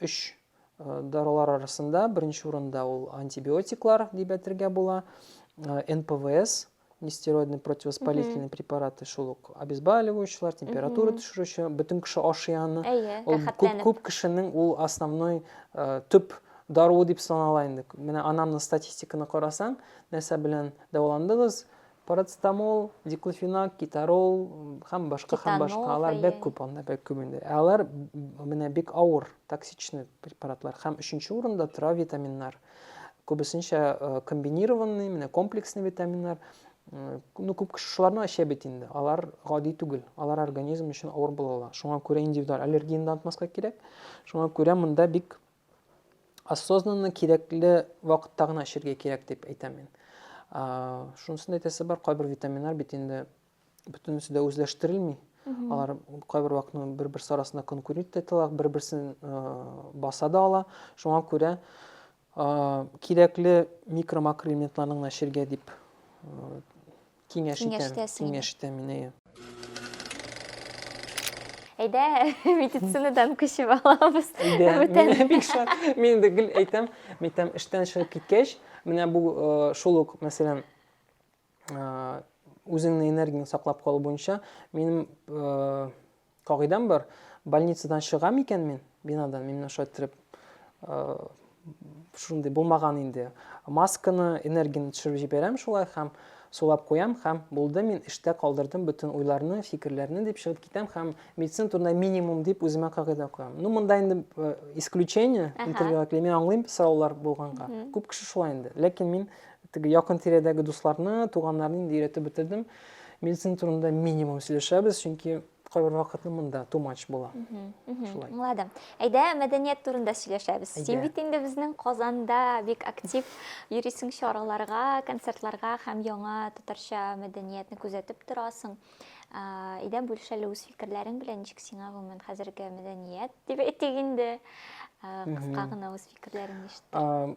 Өч дарулар арасында беренче урында ул антибиотиклар дип әйтергә була. НПВС, нестероидный противовоспалительный препараты шул ук обезболивающийлар температура төшерүче бөтен кеше ашый аны ул күп күп кешенең ул основной э, төп даруы дип санала инде менә анамның статистиканы карасаң нәрсә белән дәваландыгыз Парацетамол, диклофенак, китарол һәм башка һәм башка алар бик күп анда бик күп инде. Ә алар менә бик авыр, токсичный препаратлар һәм өченче урында тора витаминнар. Күбесенчә э, комбинированный, менә комплексный витаминнар. Э, ну, күп кеше шуларны эчә бит инде. Алар гади түгел. Алар организм өчен авыр була ала. Шуңа күрә индивидуаль аллергияне дә онытмаска кирәк. Шуңа күрә монда бик осознанно кирәкле вакытта гына эчәргә кирәк дип әйтәм мин шунысын әйтәсе бар кайбер витаминнар бит инде бөтенесе дә үзләштерелми алар кайбер вакытның бер берсе арасында конкурент итә бер берсен баса да ала шуңа күрә кирәкле микро макроэлементларны гына эчәргә дип Киңәш итәм. Киңәштәсең инде. Киңәш итәм мин, әйе. Әйдә, медицинадан күчеп алабыз. Әйдә, Бүтән. мин бик шат. Мин инде гел әйтәм, мин әйтәм, эштән чыгып киткәч, менә бу э, шул ук, мәсәлән, э, үзеңне энергияңне саклап калу буенча минем э, Кагыйдәм бар, больницадан чыгам икән мин, бинадан, мин менә шулай иттереп, шундый булмаган инде. Масканы, энергияне төшереп җибәрәм шулай һәм сулап куям һәм булды, мин эштә калдырдым бөтен уйларны, фикерләрне дип чыгып китәм һәм медицина турында минимум дип үземә кагыйдә куям. Ну, монда инде э, исключение, интервьюга килә, мин аңлыйм сораулар булганга. Күп кеше шулай инде. Ләкин мин теге якын тирәдәге дусларны, туганнарны инде өйрәтеп бетердем. Медицина турында минимум сөйләшәбез, чөнки кайбер вакытны монда too much була. Шулай. Аңладым. Әйдә, мәдәният турында сөйләшәбез. Син бит инде безнең Казанда бик актив йөрисең чараларга, концертларга һәм яңа татарча мәдәниятне күзәтеп торасың. Әйдә, бүлешәле үз фикерләрең белән, ничек сиңа гомумән хәзерге мәдәният дип әйтик инде. Кыска гына үз фикерләреңне ишетте.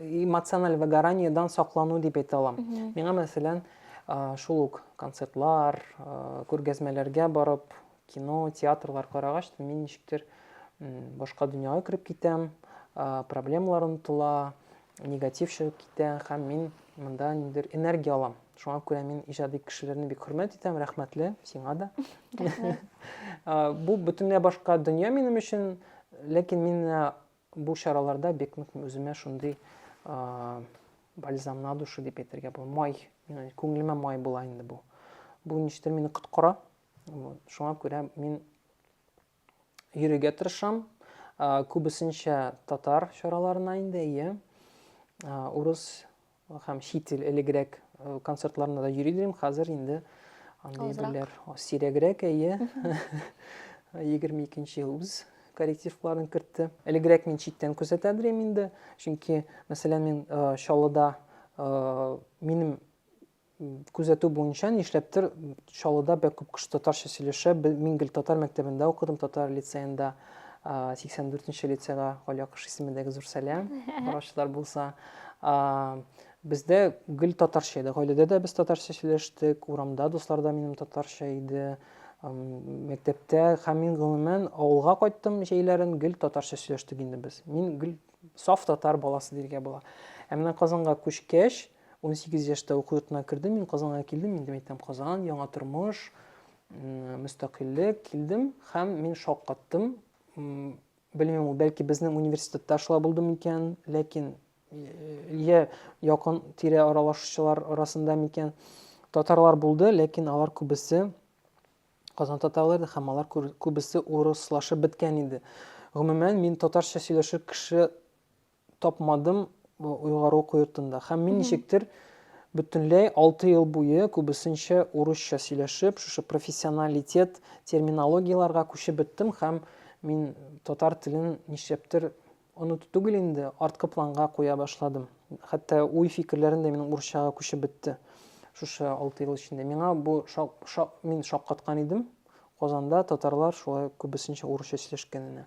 эмоциональ выгораниедан саклану дип әйтә алам. Миңа, мәсәлән, шул ук концертлар, күргәзмәләргә барып, кино, театрлар карагач, мин ничектер башка дөньяга кереп китәм, проблемалар онытыла, негатив чыгып китә һәм мин монда ниндер энергия алам. Шуңа күрә мин иҗади кешеләрне бик хөрмәт итәм, рәхмәтле сиңа да. Бу бөтенләй башка дөнья минем өчен, ләкин мин Бу чараларда бик нык үземә шундый бальзам на душу дип әйтергә була. Май, күңелемә май була инде бу. Бу ништер мине коткара. Шуңа күрә мин йөрергә тырышам. Күбесенчә татар чараларына инде, әйе. Урыс Һәм чит ил элегрәк концертларына да йөри идем, хәзер инде андый берләр сирәгрәк, әйе. 22 ел үз коррективларын кертте. Элегрәк мин читтән күзәтә идем инде, чөнки, мәсәлән, мин Чаллыда минем Күзәтү буенча, нишләптер, Чаллыда бәк күп кеше татарча сөйләшә. Мин гел татар мәктәбендә укыдым, татар лицеенда, 84 нче лицейга Галия Акыш исемендәге зур сәлам, караучылар булса. Бездә гел татарча иде. Гаиләдә дә без татарча сөйләштек, урамда дуслар да минем татарча иде, мәктәптә һәм мин гомумән авылга кайттым җәйләрен, гел татарча сөйләштек инде без. Мин гел саф татар баласы дияргә була. Ә менә Казанга күчкәч, 18 яшьтә уку йортына кердем, мин Казанга килдем, инде әйтәм Казан, яңа тормыш, мөстәкыйльлек, килдем һәм мин шок каттым. Белмим, бәлки безнең университетта шулай булды микән, ләкин я якын тирә аралашучылар арасында микән татарлар булды, ләкин алар күбесе Казан татарлары һәм алар күбесе урыслашып беткән иде. Гомумән, мин татарча сөйләшер кеше тапмадым уйгар уку йортында. Һәм мин ничектер бөтенләй 6 ел буе күбесенчә урысча сөйләшеп, шушы профессионалитет терминологияләргә күчеп беттем һәм мин татар телен нишләптер оныту түгел инде, арткы планга куя башладым. Хәтта уй-фикерләрем дә минем урысчага күчеп бетте. Шушы 6 ел эчендә миңа бу шак, шак, мин шаккаткан идем. Казанда татарлар шулай күбесенчә урысча сөйләшкәненә.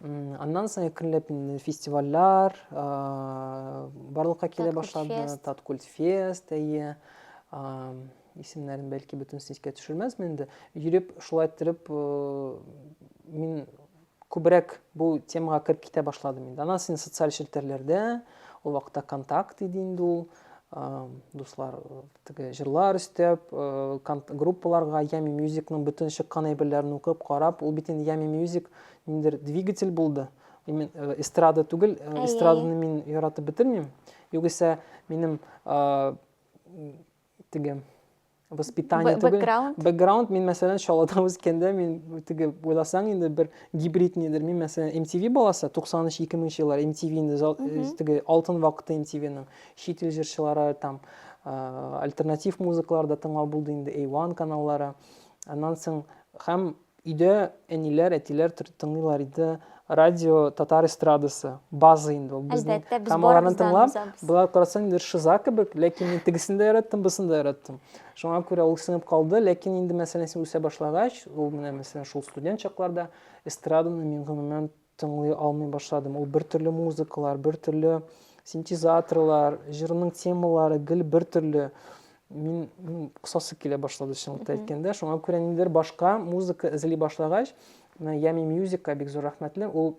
Аннан соң әкренләп фестивальләр барлыкка килә башлады. Таткульт фест, әйе. Исемнәрен бәлки бөтенесен искә төшермәсмен инде. Йөреп, шулай иттереп мин күбрәк бу темага кереп китә башладым инде. Аннан соң социаль челтәрләрдә, ул вакытта контакт иде инде ул. дуслар теге җырлар өстәп группаларга ями мюзикның бөтен чыккан әйберләрен укып карап ул бит инде ями мюзик ниндер двигатель булды именно э, эстрада түгел э, эстраданы мин яратып бетермим югыйсә минем теге воспитание түгел бэкграунд бэкграунд мин мәсәлән чаллыда үскәндә мин теге уйласаң инде бер гибрид нидер мин мәсәлән mtv баласы 93 2000 еллар mtv инде э, теге алтын вакыты mtvның чит ил җырчылары там э, альтернатив музыкалар да тыңлау булды инде a1 каналлары аннан соң һәм Өйдә әниләр, әтиләр тыңлыйлар иде. Радио татар эстрадасы, база инде ул безнең. Һәм аларны тыңлап, болай карасаң инде шиза кебек, ләкин мин тегесен дә яраттым, бусын да яраттым. Шуңа күрә ул сынып калды, ләкин инде мәсәлән син үсә башлагач, ул менә мәсәлән шул студент чакларда эстраданы мин гомумән Тыңлый алмый башладым. Ул бертөрле музыкалар, бертөрле синтезаторлар, җырның темалары гел бертөрле. Мин, мин кысасы килә башлады чынлыкта әйткәндә. Шуңа күрә ниндидер башка музыка эзли башлагач, менә Ями Мьюзикка бик зур рәхмәтле. Ул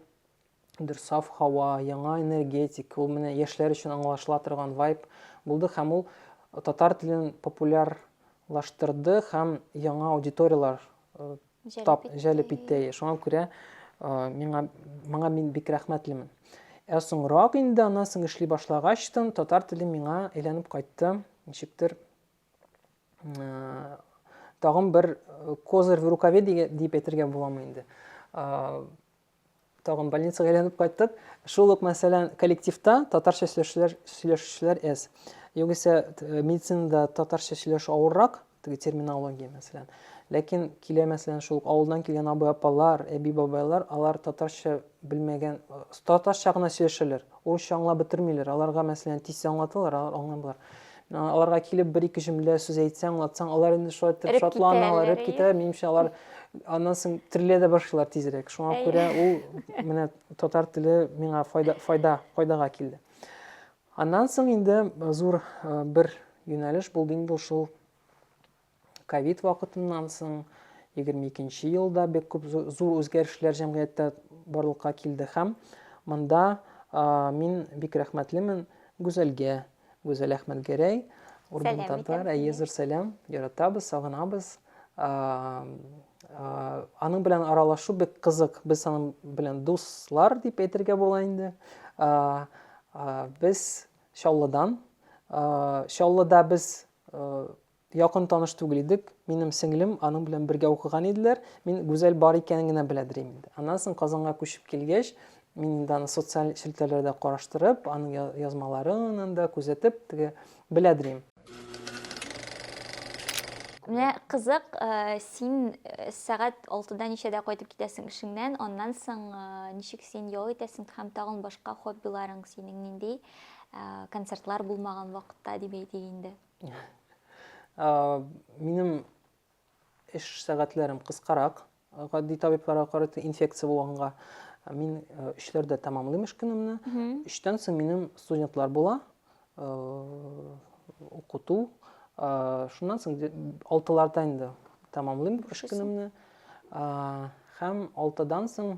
дер саф һава, яңа энергетик, ул менә яшьләр өчен аңлашыла торган вайб булды һәм ул татар телен популярлаштырды һәм яңа аудиторияләр э, тап җәлеп итте. Шуңа күрә миңа моңа мин бик рәхмәтлемен. Ә соңрак инде аннан соң эшли башлагач тын татар теле миңа әйләнеп кайтты. Ничектер тагын бер козырь в рукаве дип әйтергә буламы инде. Тагын больницага әйләнеп кайттык. Шул ук, мәсәлән, коллективта татарча сөйләшүчеләр, сөйләшүчеләр әз. Югыйсә, э, медицинада татарча сөйләшү авыррак, теге терминология, мәсәлән. Ләкин килә, мәсәлән, шул ук авылдан килгән абый-апалар, әби-бабайлар, алар татарча белмәгән, э, татарча гына сөйләшәләр. Урысча аңлап бетермиләр. Аларга, мәсәлән, тиз аңлаталар, алар аңламыйлар. Аларга килеп бер-ике җөмлә сүз әйтсәң, аңлатсаң, алар инде шулай итеп шатлана, эреп китә. Минемчә, алар аннан соң терелә дә башлыйлар тизрәк. Шуңа күрә ул менә татар теле миңа файда, файда, файдага килде. Аннан соң инде зур бер юнәлеш булды инде шул ковид вакытыннан соң, егерме икенче елда бик күп зур үзгәрешләр җәмгыятьтә барлыкка килде һәм монда мин бик рәхмәтлемен Гүзәлгә, Гүзәл Әхмәтгәрәй, Урбан татар, әйе, зур сәлам, яратабыз, сагынабыз. Аның белән аралашу бик кызык, без аның белән дуслар дип әйтергә була инде. Без Чаллыдан, Чаллыда без Якын таныш түгел идек. Минем сеңлем, аның белән бергә укыган иделәр. Мин Гүзәл бар икәнен генә белә дирим инде. Аннан соң Казанга күчеп килгәч, мин инде аны социаль челтәрләрдә караштырып, аның язмаларын да күзәтеп, теге белә дирим. Менә кызык, син сәгать алтыда ничәдә кайтып китәсең эшеңнән, аннан соң ничек син ял итәсең һәм тагын башка хоббиларың синең нинди концертлар булмаган вакытта дип әйтик инде? Минем эш сәгатьләрем кыскарак, гади табибларга карата инфекция булганга мин өчләрдә тәмамлыйм эш көнемне. Өчтән соң минем студентлар була, укыту. Шуннан соң алтыларда инде тәмамлыйм эш көнемне. Һәм алтыдан соң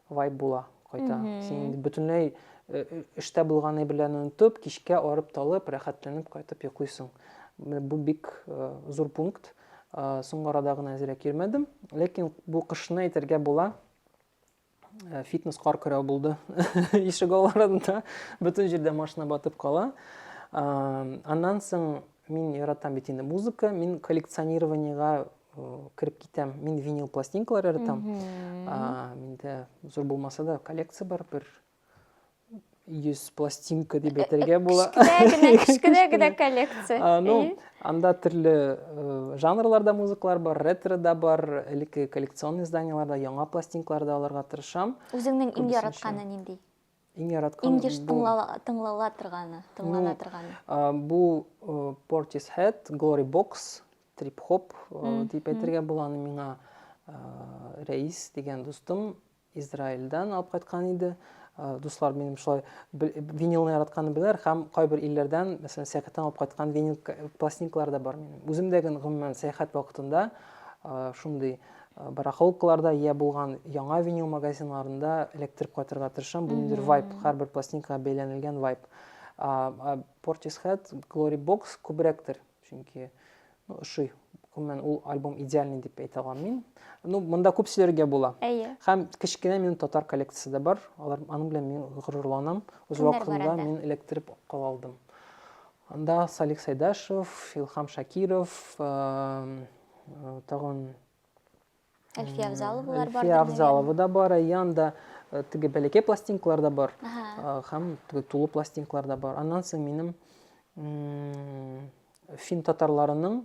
вайб була кайта. Mm -hmm. Син инде бөтенләй эштә булган әйберләрне онытып, кичкә арып-талып, рәхәтләнеп кайтып йоклыйсың. Бу бик зур пункт. Соңгы арада гына әзрәк йөрмәдем, ләкин бу кышны әйтергә була. Фитнес кар көрәү булды. Ишек аларында бөтен җирдә машина батып кала. Аннан соң мин яратам бит инде музыка, мин коллекционированиега кереп китәм мин винил пластинкалар яратам миндә зур булмаса да коллекция бар бер йөз пластинка дип әйтергә була кечкенә генә коллекция ну анда төрле э, жанрларда музыкалар бар ретро да бар элекке коллекционный изданияларда яңа пластинкалар да алырга тырышам үзеңнең иң яратканы нинди Иң яраткан Иң еш тыңлала торганы, тыңлана ну, торганы. Бу Portis Head, Glory Box, Trip Hop дип әйтергә була аны миңа Рәис дигән дустым Израильдан алып кайткан иде. Дуслар минем шулай винилны яратканны беләр һәм кайбер илләрдән, мәсәлән, сәяхәттән алып кайткан винил пластинкалар да бар минем. Үзем дә гомумән сәяхәт вакытында шундый Барахолкаларда йә булган яңа винил магазиннарында эләктереп кайтырга тырышам. Бу ниндидер вайп, һәрбер пластинкага бәйләнелгән вайп. Portishead, Glory Box күбрәктер, чөнки ну, ошый. Гомумән, ул альбом идеальный дип әйтә алам мин. Ну, монда күп сөйләргә була. Әйе. Һәм кечкенә минем татар коллекциясе дә бар. Алар аның белән мин горурланам. Үз вакытында мин эләктереп кала алдым. Анда Салих Сайдашев, Илхам Шакиров, Тагын Әлфия Авзаловалар бар. Әлфия Авзалова да бар, Аян да теге бәләкәй пластинкалар да бар. Һәм теге тулы пластинкалар да бар. Аннан соң минем фин татарларының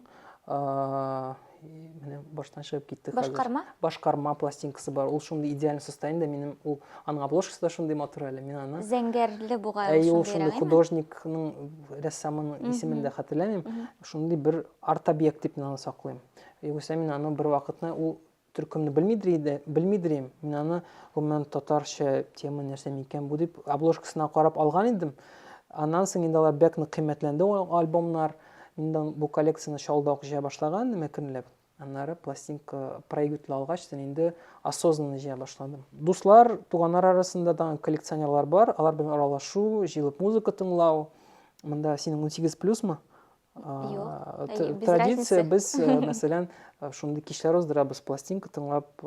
менә баштан чыгып китте хәзер. Башкарма? Башкарма пластинкасы бар. Ул шундый идеаль состояниедә минем ул аның обложкасы да шундый матур әле. Мин аны Зәңгәрле бугай ул шундый. Әй, ул шундый художникның, рәссамның исемен дә хәтерләмим. Шундый бер Арт-объект дип мин аны саклыйм. Югыйсә мин аны бервакытны ул төркемне белмидер иде, белмидер идем. Мин аны гомумән татарча тема нәрсә микән бу дип обложкасына карап алган идем. Аннан соң инде алар бәк нык кыйммәтләнде ул альбомнар. Мин дә бу коллекцияне шалда ук җыя башлаган идем әкренләп. Аннары пластинка проигрыватель алгач, син инде осознанно җыя башладым. Дуслар, туганнар арасында тагын коллекционерлар бар, алар белән аралашу, җыелып музыка тыңлау. Монда синең унсигез плюсмы? традиция без мәсәлән шундый кичләр уздырабыз пластинка тыңлап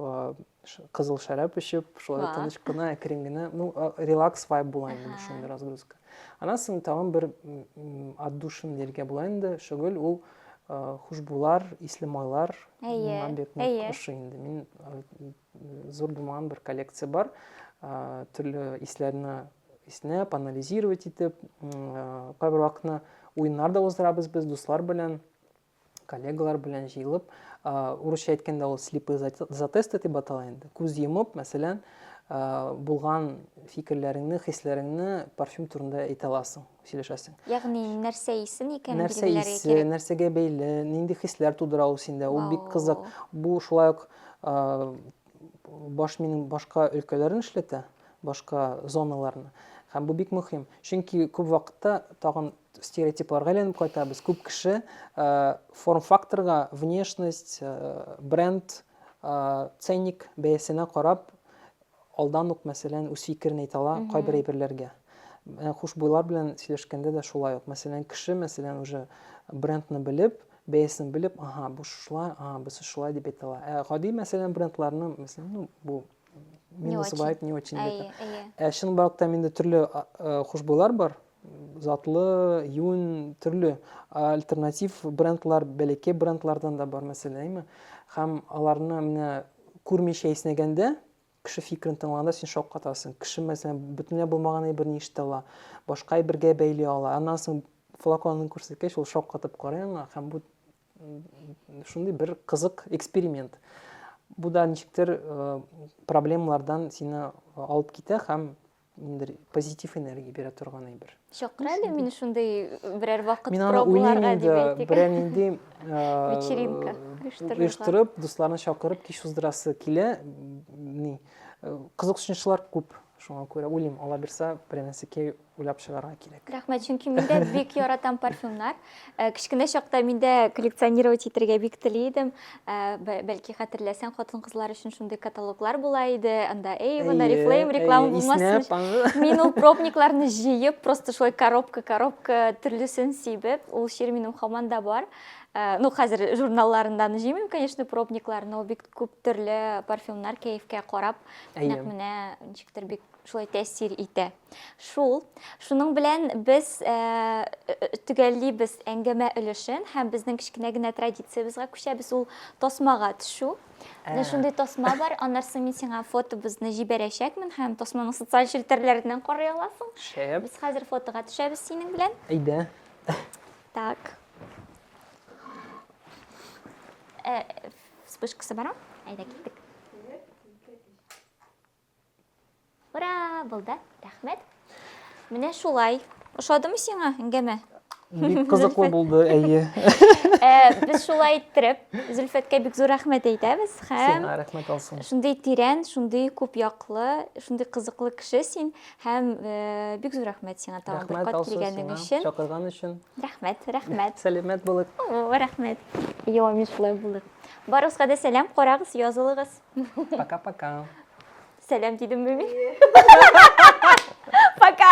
кызыл шәраб эчеп шулай тыныч кына әкрен генә ну релакс вайб була инде шундый разгрузка аннан соң тагын бер отдушин дияргә була инде шөгыль ул хушбулар исле майлар миңа бик ошый инде мин Зур булмаган бер коллекция бар. Төрле исләрне иснәп, анализировать итеп, кайбер вакытны уеннар да уздырабыз без дуслар белән, коллегалар белән җыелып. Урысча әйткәндә ул слепые затесты дип атала инде. Күз йомып, мәсәлән, булган фикерләреңне, хисләреңне парфюм турында әйтә аласың. сөйләшәсең. Ягъни нәрсә исен икән нәрсә исе, нәрсәгә бәйле, нинди хисләр тудыра ул синдә, ул бик кызык. Бу шулай ук баш минем башка өлкәләрен эшләтә, башка зоналарны. Һәм бу бик мөһим, чөнки күп вакытта тагын стереотипларга әйләнеп кайтабыз. Күп кеше форм-факторга, внешность, бренд, ценник бәясенә карап Алдан ук, мәсәлән, үз фикерен әйтә ала кайбер әйберләргә. Менә хушбуйлар белән сөйләшкәндә дә шулай ук. Мәсәлән, кеше, мәсәлән, уже брендны белеп, бәясен белеп, аһа, бу шулай, аһа, бусы шулай дип әйтә ала. Ә гади, мәсәлән, брендларны, мәсәлән, ну, бу минус вайп, не очень, дип әйтә. Ә чынбарлыкта инде төрле хушбуйлар бар. затлы, юн, төрле альтернатив брендлар, бәләкәй брендлардан да бар мәсьәлә, әйме? Һәм аларны менә күрмичә иснәгәндә, кеше фикерен тыңлаганда син шаккатасың. Кеше, мәсәлән, бөтенләй булмаган әйберне ишетә ала, башка әйбергә бәйли ала. Аннан соң флаконын күрсәткәч, ул шаккатып карый аңа һәм бу шундый бер кызык эксперимент. Бу да ничектер проблемалардан сине алып китә һәм ниндидер позитив энергия бирә торган әйбер чакыра әле мине шундый берәр вакыт мин аны уйлыйм инде берәр нинди вечеринка оештырып дусларны чакырып кич уздырасы килә ни кызыксынучылар күп шуңа күрә уйлыйм алла бирса берәр нәрсәкәй уйлап чыгарга кирәк рәхмәт чөнки мин дә бик яратам парфюмнар Э, кечкенә чакта мин дә коллекционировать итәргә бик тели идем э, бәлки хәтерләсәң хатын кызлар өчен шундый каталоглар була иде анда эйвен арифлейм реклама булмасын мин ул пробникларны җыеп просто шулай коробка коробка төрлесен сибеп ул чир минем хаман да бар э, ну хәзер журналларыннан җыймыйм конечно пробникларны ул бик күп төрле парфюмнар кәефкә карап нәкъ менә ничектер бик шулай тәэсир итә Шул. Шуның белән без э, э, төгәллибез әңгәмә өлешен һәм безнең кечкенә генә традициябезгә күчәбез. Ул тасмага төшү. Менә ә. шундый тасма бар. Аннарсы мин сиңа фотобызны җибәрәчәкмен һәм тасманы социаль челтәрләрдән карый аласың. Шәп. Без хәзер фотога төшәбез синең белән. Әйдә. Так. Э, вспышкасы бар. Әйдә киттек. Ура, булды. Рәхмәт. Менә шулай. Ошадымы сиңа әңгәмә? Бик кызыклы булды, әйе. Э, без шулай иттереп, Зөлфәткә бик зур рәхмәт әйтәбез һәм Сиңа рәхмәт алсын. Шундый тирән, шундый күп яклы, шундый кызыклы кеше син һәм э, бик зур рәхмәт сиңа тагын бер кат килгәнең өчен. Чакырган өчен. Рәхмәт, рәхмәт. Сәләмәт булык. Рәхмәт. Йо, мин шулай булдык. Барыгызга да сәлам, карагыз, язылыгыз. Пока-пока. Сәлам дидемме мин? Пока.